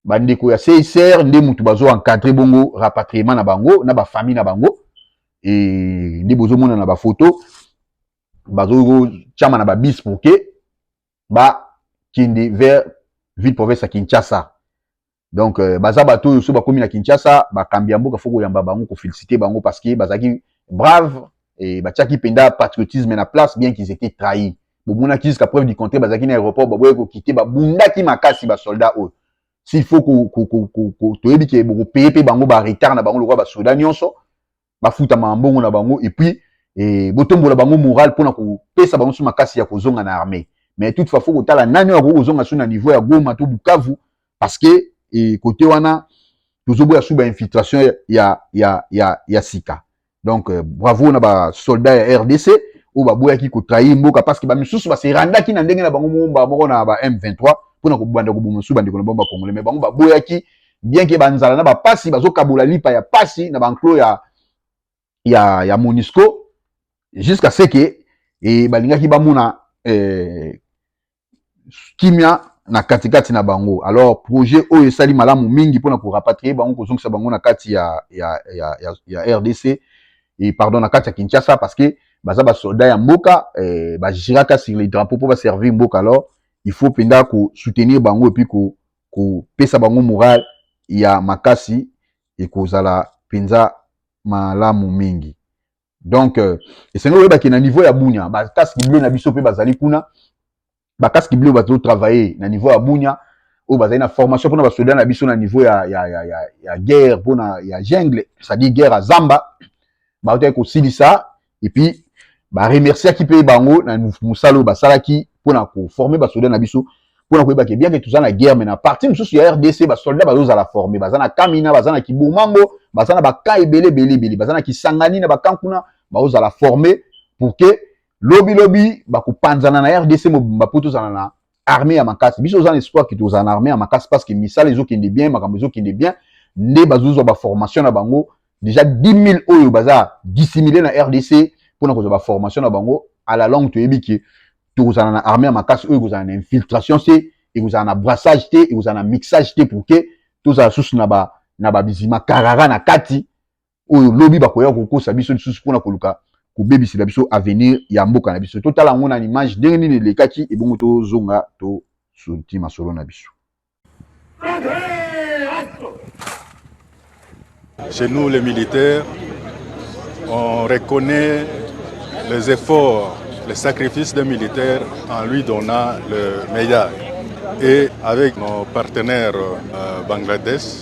Speaker 4: bandeko ya csr nde motu bazo encadre bongo rapatriement na bango na bafamille na bango e nde bozomona na bafoto bazotyama na babis pour ke bakende vers ville province ya kinshasa donc euh, baza bato oyo so bakomi na kinshasa bakambi ya mboka fo koyamba bango kofelicite bango parce que bazalaki brave e batiaki mpenza patriotisme na place bien qu'ils étaient trahi bomonaki jusqu'à preuve du contraire bazalaki na aéroport baboye kokite babundaki makasi basoldat oyo s'il faut toyebi ke bokopeye mpe bango baretard na bango lokola basoda nyonso bafutama mbongo na bango et puis eh, botombola bango moral mpona kopesa bango so makasi ya kozonga na armée mais toutefois fo kotala nani oyo akoki kozonga so na niveau ya goma to bukavu parce que eh, kote wana tozoboya su bainfiltration ya, ya, ya, ya sika donc euh, bravo na basoldat ya rdc oyo baboyaki kotrahir mboka parce que bamisusu baserandaki na ndenge na bango moko mbala moko na ba m23 mpona kobanda koboma mosusu bandeko na bango bakongole me bango baboyaki bien ke banzala na bapasi bazokabola lipa ya pasi na banclo ya, ya, ya monisco jusqu'à ce ke e, balingaki bamona eh, kimia na katikati na bango alors projet oyo esali malamu mingi mpona korapatrie bango kozongisa bango na kati ya, ya, ya, ya, ya rdc e, pardon na kati ya kinshasa parce que baza basoldat ya mboka eh, bagiraka sur les drapeau mpo baservir mboka alors il faut mpenza kosoutenir bango epuis ko kopesa bango morale ya makasi ekozala mpenza malamu mingi. Donc, euh, esengeli koyeba ke na niveau ya Bunia, ba casque bleu na biso mpe bazali kuna, ba casque bleu bazo travailler na niveau ya Bunia, oyo bazali na formation mpona basoda na biso na niveau ya, ya, ya, ya, ya guerre mpona ya jungle, c'est-à-dire guerre ya zamba, bautaki kosilisa et puis ba remerciaki pe bango na musala oyo basalaki mpo na koforme basoda na biso mpo na koyeba ke bien ke toza na guerre me na parti mosusu ya rdc basoldat bazozala forme baza na kamina baza na kibomango baza na bakan ebele ebele ebele baza na kisangani na bakan kuna baozala forme pour ke lobilobi bakopanzana na rdc mobimba mpo tozala na armée ya makasi biso oza na espoir kiti ozala na armée ya makasi parce que misala ezokende bien makambo ezokende bien nde bazozwa baformation na bango déjà 10000 oyo baza dissimile na rdc mpona kozwa baformation na bango à la longue toyebi ke tokozala na armée ya makasi oyo ekozala na infiltration te ekozala na brassage te ekozala na mixage te pour ke tozala susu na ba na babizima karara na kati oyo lobi bakoya kokosa biso lisusu mpona koluka kobebisela biso avenir ya mboka na biso totala yango na image ndenge nini elekaki ebongo tozonga tosunti masolo na biso
Speaker 6: Chez nous, les militaires, on reconnaît les efforts, les sacrifices des militaires en lui donnant le meilleur. Et avec nos partenaires euh, Bangladesh,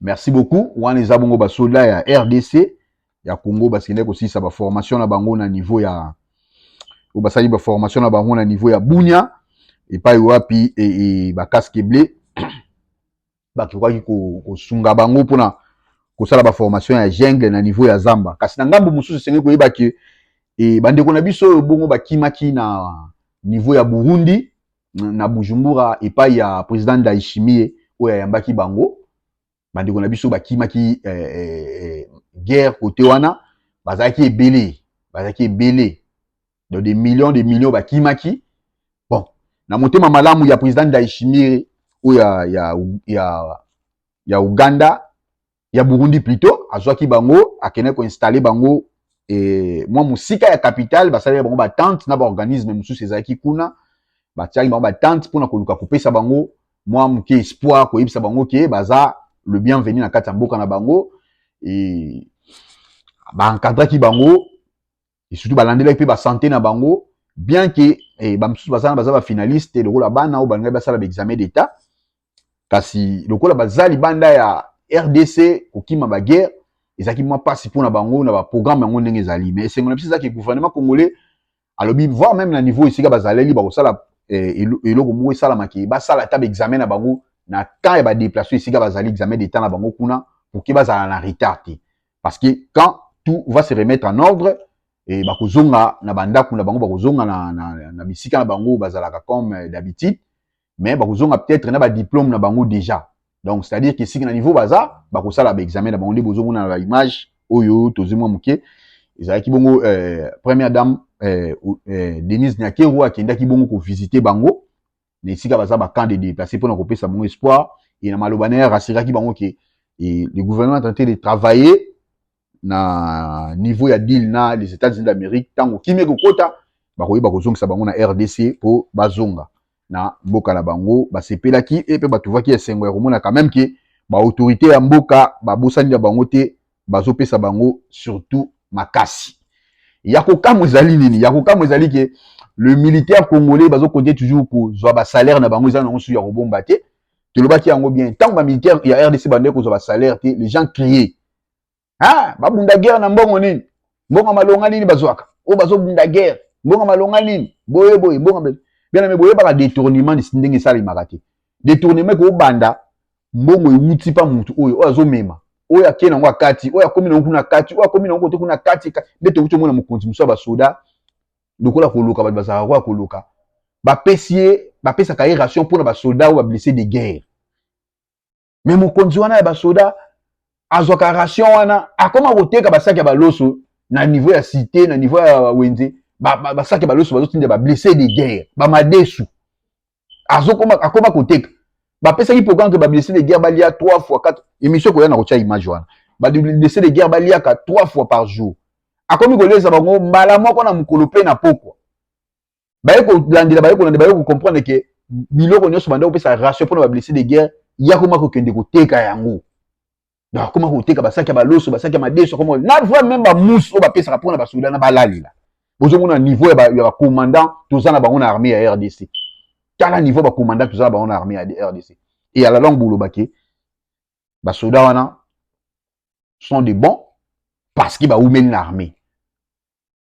Speaker 4: merci beaucoup wana eza bongo basoda ya rdc ya congo basende kosilisa baformation na bango na niveau ya oyo basali baformation na bango na niveau ya bunia epai wapi e, e, bakaske ble bakokaki kosunga bango mpona kosala baformation ya jungle na niveau ya zamba kasi na ngambo mosusu esengeli koyeba ke e, bandeko na biso oyo bongo bakimaki na niveau ya burundi na bujumbura epai ya president ndaishimie oyo ayambaki bango bandeko na biso bakimaki eh, eh, eh, guerre kote wana bazalaki ebele bazalaki ebele donc des millions des millions bakimaki bon na motema malamu ya président ndaishimire oyo ya, ya, ya, ya uganda ya burundi plutôt azwaki bango akendaki koinstalle bango e, mwa mosika ya capitale basaleli bango batente na baorganisme mosusu ezalaki kuna batiaki bango batente mpona koluka kopesa bango mwa moke espoir koyebisa bango ke baza le bienvenu na kati ya mboka na bango e, baencadraki bango et surtout balandelaki mpe basante na bango bien ke eh, bamosusu bazana baza bafinaliste te lokola bana oyo balingaki basala baexamen d'état kasi lokola baza libanda ya rdc kokima baguerre ezalaki mwa mpasi mpo na bango na baprogramme yango ndenge ezali mais esengo na biso ezalaki gouvernement congolais alobi voir même na niveau esika bazaleli bakosala eh, eloko moko esalama ke basala ata baexamen na bango na temps ya badeplace esika bazali examen d'état na bango kuna pour ke bazala na retard te parce que quand tout va se remettre en ordre et bakozonga na bandako na bango bakozonga na, na, na, na bisika na bango bazalaka comme euh, d'habitude mais bakozonga peut-être na badiplôme na bango déjà donc c'est à dire que esika na niveau baza bakosala baexamen na bango nde bozomona na baimage oyo tozwi mwa moke ezalaki bongo euh, première dame euh, euh, denise nyakeru akendaki bongo kovisite bango na esika baza ba camp de déplacer pona ko pesa bango espoir et na maloba na rassuraki bango ke et le gouvernement est en train de travailler na niveau ya deal na les États-Unis d'Amérique tango kimia kokota bakoyeba kozongisa bango na RDC po bazonga na mboka na bango basepelaki et pe batuvaki esengo ya komona quand même ke ba autorité ya mboka babosani ya bango te bazopesa bango surtout makasi ya kokamwa ezali nini ya kokamwa ezali ke le militaire congolais bazo compter toujours kozwa ba salaire na bango eza nango susu ya kobomba te tolobaki yango bien ntango ba militaire ya rdc bandaki kozwa ba salaire te les gens crier ah babunda guerre na mbongo nini mbongo malonga nini bazwaka oyo bazobunda guerre mbongo malonga nini boye boye mbongo bien aimé boyebaka détournement ndenge esalemaka te détournement ekobanda mbongo ewuti mpa motu oyo oyo azomema oyo akei nango akati oyo akomi nango kuna kati oyo akomi nango kote kuna kati nde tokuti omona mokonzi mosusu ya basoda lokola koluka bato bazalaka koya koluka bapesi ye bapesaka ye ration mpo na basoda oyo bablesse de guerre me mokonzi wana ya basoda azwaka ration wana akoma koteka basaki ya baloso na niveau ya cité na niveau ya wenze basaki ya baloso bazotinda bablesse de guerre bamadesu akoma koteka bapesaki programme ke bablesse de guerre balia 3 fois 4 émission koya na kotya image wana bablesse de guerre baliaka 3 fois par jour akomi koleza bango mbala moko na mokolo mpe na pokwa baye kolandela baye kolanda baye kocomprendre ke biloko nyonso banda kopesa ratio mpona bablesse de guerre ya koma kokende koteka yango donc akoma koteka basaki ya baloso basaki ya madeso akoma na voi meme bamusi oyo bapesaka mpona basoda na balalela bozomona niveau ya bacommandant toza na bango na armée ya rdc tala niveau ya bacommandant toza na bango na armée ya rdc et à la longue boloba ke basoda wana sont de bons parce que baumeli na armée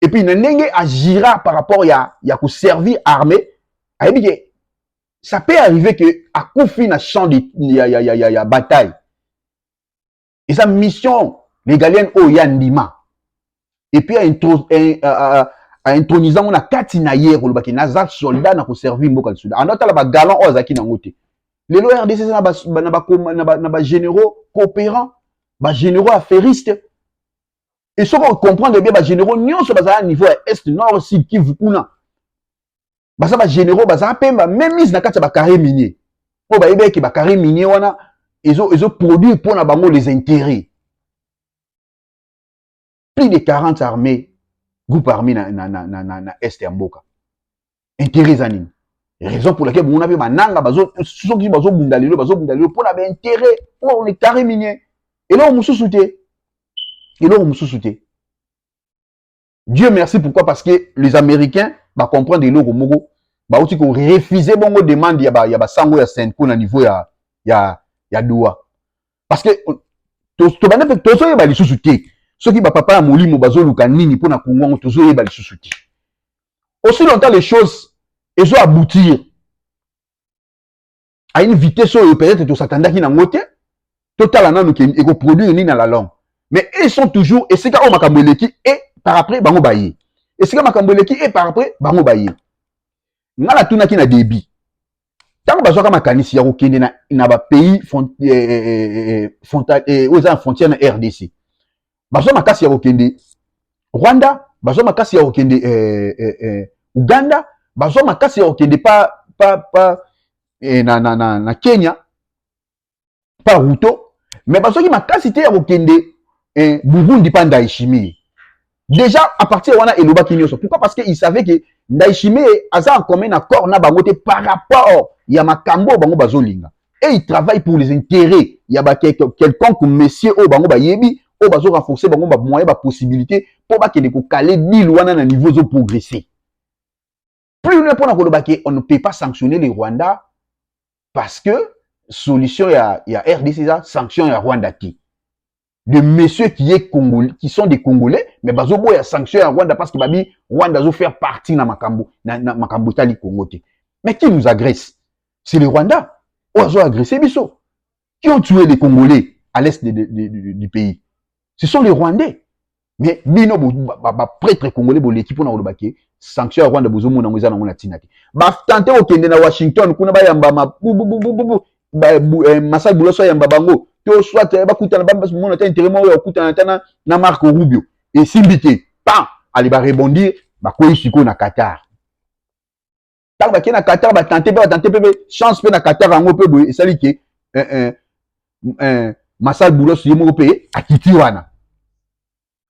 Speaker 4: et puis na ndenge agira par rapport ya, ya koservir armée ayebi ke ça peut arriver que akufi na champ de, ya, ya, ya, ya, ya bataille eza mission legalienne oyo ya ndima et puis aintronisant ngo na kati na ye koloba ke naza soldat na koservir mboka lisusu anda otala bagalan oyo azalaki nango te lelo rdc eza na bagénéraux coopérant bagénéraux affairistes et soki ocomprendre bien bagénéraux nyonso bazala niveau ya est nord sud kivu kuna baza bagénéraux bazala mpe bamemise na kati ya bacarré minier mpo bayebi eke bacarré minier wana ezoproduire ezo mpo na bango les intérêts plus de 40 armées groupe armé na, na, na, na, na, na est ya mboka intérêt eza nini raison pour laquelle bomona mpe bananga soki bazobunda lelo bazobunda lelo mpo na baintérêt mpo na carré minier eloko mosusu te eloko mosusu te dieu merci pourquoi parce que les américains bacomprendre eloko moko bauti korefuse bongo demande ya, ba, ya basango ya senco na niveau ya, ya, ya doa parce que tobanda mpe tozoyeba lisusu te soki bapapa ya molimo bazoluka nini mpo na kongo yango tozoyeba lisusu te aussi longtemps les choses ezo aboutir à une vitesse oyo peut-être tosatandaki nango te totala nanu ke ekoproduire nini na la longue mais ils sont toujours esika oyo makambo eleki e par après bango baye esika makambo eleki e par après bango baye ngai natunaki na debit ntango bazwaka makanisi ya kokende na, na bapays front, eh, eh, eh, eh, frontal, eh, oyo eza na frontière na rdc bazwa makasi ya kokende rwanda bazwa makasi ya kokende eh, eh, eh, uganda bazwa makasi ya kokende pa, pa, pa, eh, na, na, na, na kenya pa ruto mais basoki makasi te ya kokende eh, burundi pa ndaishimie déjà à partir de wana elobaki nyonso pourquoi parce que il savait que ndaishimie aza en commun accord na bango te par rapport ya makambo oyo bango bazolinga et il travaille pour les intérêts ya ba quelconque messier oyo bango bayebi oyo bazo renforcer bango bamoyen bapossibilité mpo bakende kokale deal wana na niveau ezoprogresse plus loin pona koloba ke on ne peut pas sanctionner le Rwanda parce que solution ya, ya RDC eza sanction ya Rwanda te de messieurs qui est congolais qui sont des congolais mais bazo boya sanction ya Rwanda parce que babi Rwanda zo faire partie na makambo na, na makambo tali Congo te mais qui nous agresse c'est le Rwanda oyo azo agresser biso qui ont tué les Congolais à l'est de, de, de, de, du pays. Ce sont les Rwandais. Mais bino ba prêtre congolais boleki pona koloba ke sanction ya Rwanda bozo mona ngo eza nango na tina te. Ba tante okende na Washington kuna ba yamba ma bu bu bu bu bu ba eh, masai buloso yamba bango to soit eh, ba kutana ba mona ta intérêt moko ya kutana ta na, na Marco Rubio et simbite pa ali ba rebondir ba koyi siko na Qatar. ntango bakei na qatar batante mpe batante mpe chance mpe na qatar yango mpe boye esali ke eh, eh, eh, masal boulos ye moko mpe akiti wana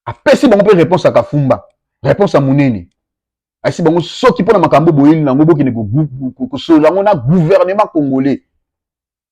Speaker 4: apesi bango mpe réponse ya kafumba réponse ya monene ayesi bango soki mpo na makambo boyeli na yango bokende kosolola yango na gouvernement congolais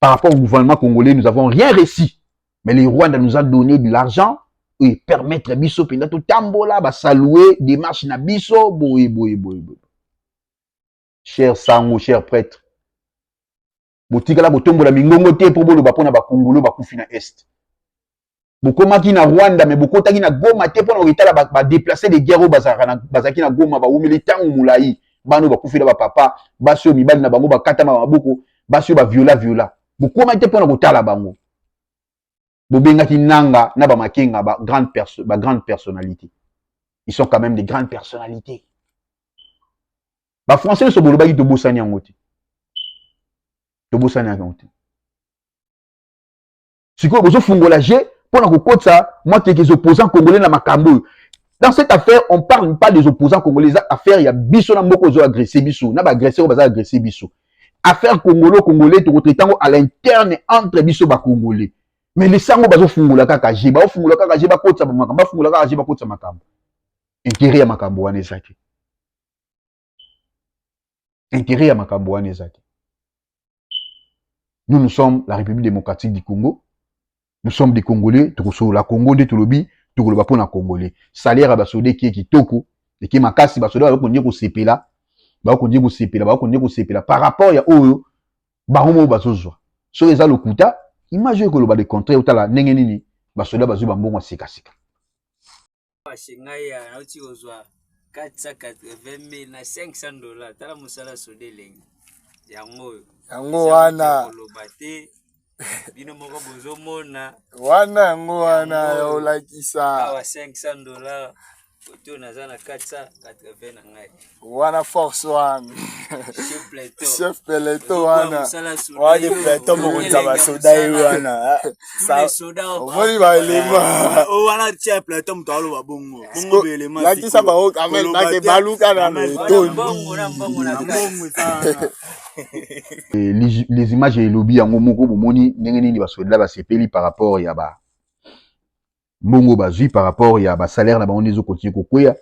Speaker 4: par rapport au gouvernement congolais, nous n'avons rien réussi. Mais le Rwanda nous a donné de l'argent et permettre biso penda tout tambola, ba saluer démarche na biso, boye boye boye boye. Cher sango, cher prêtre, botikala botombola mingongo te po boloba pona ba congolais bakufi na est. bokomaki na rwanda me bokotaki na goma te mpo na kokitala badeplace ba de guerre oyo bazalaki na goma bawumeli ntango molai bana oyo bakufela bapapa basi oyo mibali na bango bakatama maboko basi oyo baviola viola bokoma te mpo na kotala bango bobengaki nanga na bamakenga ba grande, perso ba grande personnalité ils sont quand même des grandes personnalités bafrançais nyonso bolobaki tobosani yango te tobosani yango te sikoyo bozofungola je mpo na kokotisa mwa kekes opposant congolais na makambo oyo dans cette affaire on parle pas des opposants congolais eza affaire ya biso na mboka ozo agresse biso na baagresseur oyo baza agresse biso affaire congolo congolais tokotraite yango à l'interne entre biso bacongolais mais lisango bazofungola kaka je baofungola kaka je bakotisa makambo bafungola kaka je bakotisa makambo intere ya makambo wana eza te Intérêt ya makambo wana eza te. Nous, nous sommes la République démocratique du Congo. Nous sommes des Congolais. Tokosolola Congo nde tolobi tokoloba mpo na Congolais. Salaire ya basoda eke kitoko eke makasi basoda bakoki kosepela bakoki kosepela bakoki kosepela par rapport ya oyo bango moko bazozwa soki eza lokuta image oyo ekoloba le contraire otala ndenge nini basoda bazwi bambongo ya sikasika Pashe ngai ya
Speaker 7: nauti kozwa 480 mille na 500 dollars tala mosala soda elengi yango oyo yango wana koloba te bino moko bozomona wana yango
Speaker 2: wana ya olakisa awa 500
Speaker 7: dollars oto naza na 480 na ngai wana force
Speaker 2: wana chef peleto wana wani peleto
Speaker 8: mokonzi ya basoda ye wana
Speaker 2: omoni baelema wana tia peleto
Speaker 8: moto aloba bongo bongo baelema lakisa bango kamel
Speaker 2: bake baluka na metondi
Speaker 4: les images elobi yango moko bomoni ndenge nini basoda basepeli par rapport ya ba mbongo bazwi par rapport ya basalaire na bango nde ezokontinue kokwea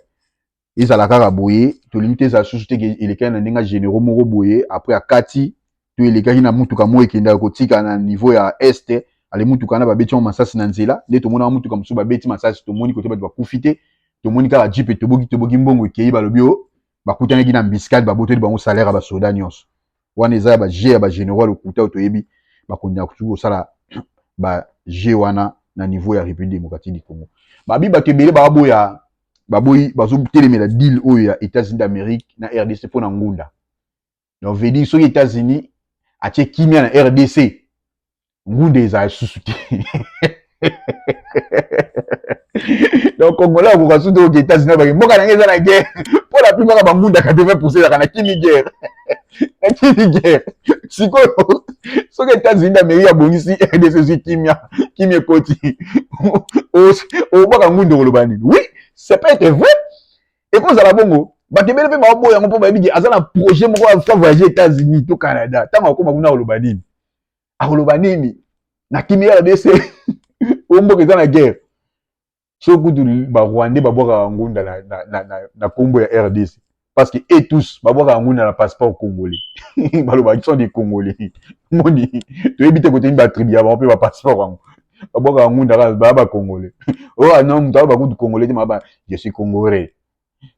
Speaker 4: ezala kaka boye tolingi te ezala susu te elekaki na ndenge généraux moko boye après akati to elekaki na mutuka moko ekendaka kotika na niveau ya est ale mutuka wana babeti yango masasi na nzela nde tomonaka mutuka mosusu babeti masasi tomoni kote bato bakufi te tomoni kaka jipe toboki toboki mbongo ekei balobi o oh, bakutanaki na mbiskade babotoli bango salaire ya basoda nyonso wana eza ya ba jeu ya ba generaux ya lokuta oyo toyebi bakonde na kutu kosala ba jeu wana na niveau ya République démocratique du Congo babi bato ebele baboya baboyi bazotelemela deal oyo ya États-Unis d'Amérique na RDC mpo na ngunda donc veut dire soki États-Unis atie kimia na RDC ngunda ezala lisusu te donc congolais akoka su te oke etats-unis abaki mboka nange eza na guerre mpo la plupart ya bangunda 80 pourcent ezalaka na kimi guerre na kimi guerre sikoyo soki etats-unis d'amérique abongisi rdc ezwi kimia kimia ekoti obwaka ngunda okoloba nini oui c'est pas ete vrai ekozala bongo bato ebele mpe baoboya yango mpo bayebi ke aza na projet moko afa voyage etats-unis to canada ntango akoma kuna koloba nini akoloba nini na kimi ya rdc oyo mboka eza na guerre so kutu barwandais babwakaka ngunda na, na, na, na, na kombo ya rdc parce que e tous babwakaka ngunda na passeport congolais baloba sont des congolais moni toyebi te koteyi batribu ya bango mpe bapasseport yango babwakaka ngunda kaka baya bacongolais oyo oh, ana ah moto aloba kutu congolais te maba je suis congolais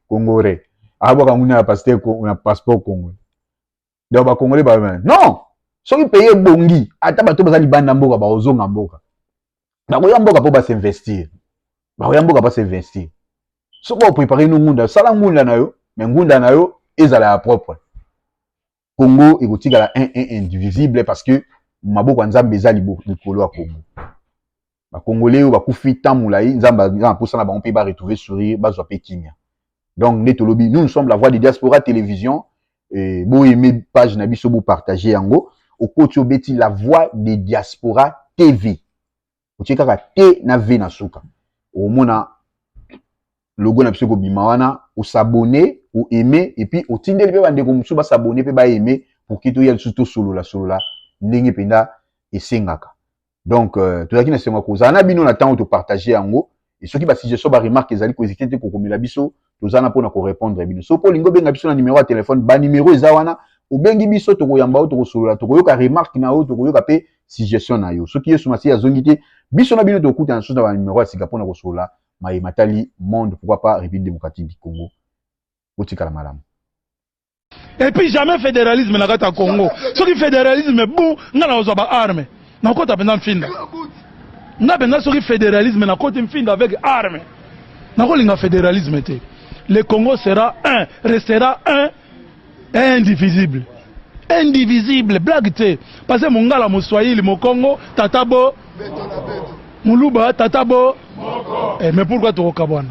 Speaker 4: congolais abwaka ngunda na passeport congolais donc ba congolais ba non soki pays ebongi ata bato baza libanda mboka bakozonga mboka bakoya mboka mpo basinvestir bakoya mboka basinvestir soki oprepare no ngunda sala ngunda na yo me ngunda na yo ezala ya propre congo ekotikala un un indivisible parce que maboko ya nzambe eza likolo ya congo ba congolais oyo bakufi temps mulayi nzambe aza na posa na bango mpe ba retrouver sourire bazwa mpe kimia donc nde tolobi nous nous sommes la voix de diaspora télévision eh, bo aime page na biso bo partage yango okoti obeti la voix de diaspora tv otie kaka te na v na suka omona logo na biso ekobima wana osabone oaime epuis otindeli mpe bandeko mosusu basabone mpe baaime pour ke toya lisusu tosolola solola ndenge mpenza esengaka donc euh, tozalaki na esengo ya kozala na bino na ntango topartage yango e soki basuggestion baremarke ezali koezite te kokomela biso toza na mpona korepondre bino soki olingi obenga biso na nimero ya telefone banimero eza wana obengi biso tokoyamba yo tokosolola tokoyoka remarke na yo tokoyoka mpe suggestion na yo soki yesu masiya azongi te biso na bino tokutana lisusu na banimero ya sika mpona kosolola maye matali monde pourquoi pas république démocratique du congo botikala malamu
Speaker 1: Et puis jamais federalisme na kati ya Congo. Soki federalisme bon, nga na ozwa ba armes. Na kota penza mfinda. Nga penza soki federalisme na koti mfinda avec armes. Na ko linga federalisme te. Le Congo sera un, restera un et indivisible. Indivisible, blague te. Parce que mongala, moswahili, mokongo, tata bo muluba, tata bo eh,
Speaker 2: mais pourquoi
Speaker 1: tokokabwana?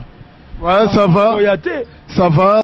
Speaker 2: Ouais, ça
Speaker 1: va. Oya te. Ça va.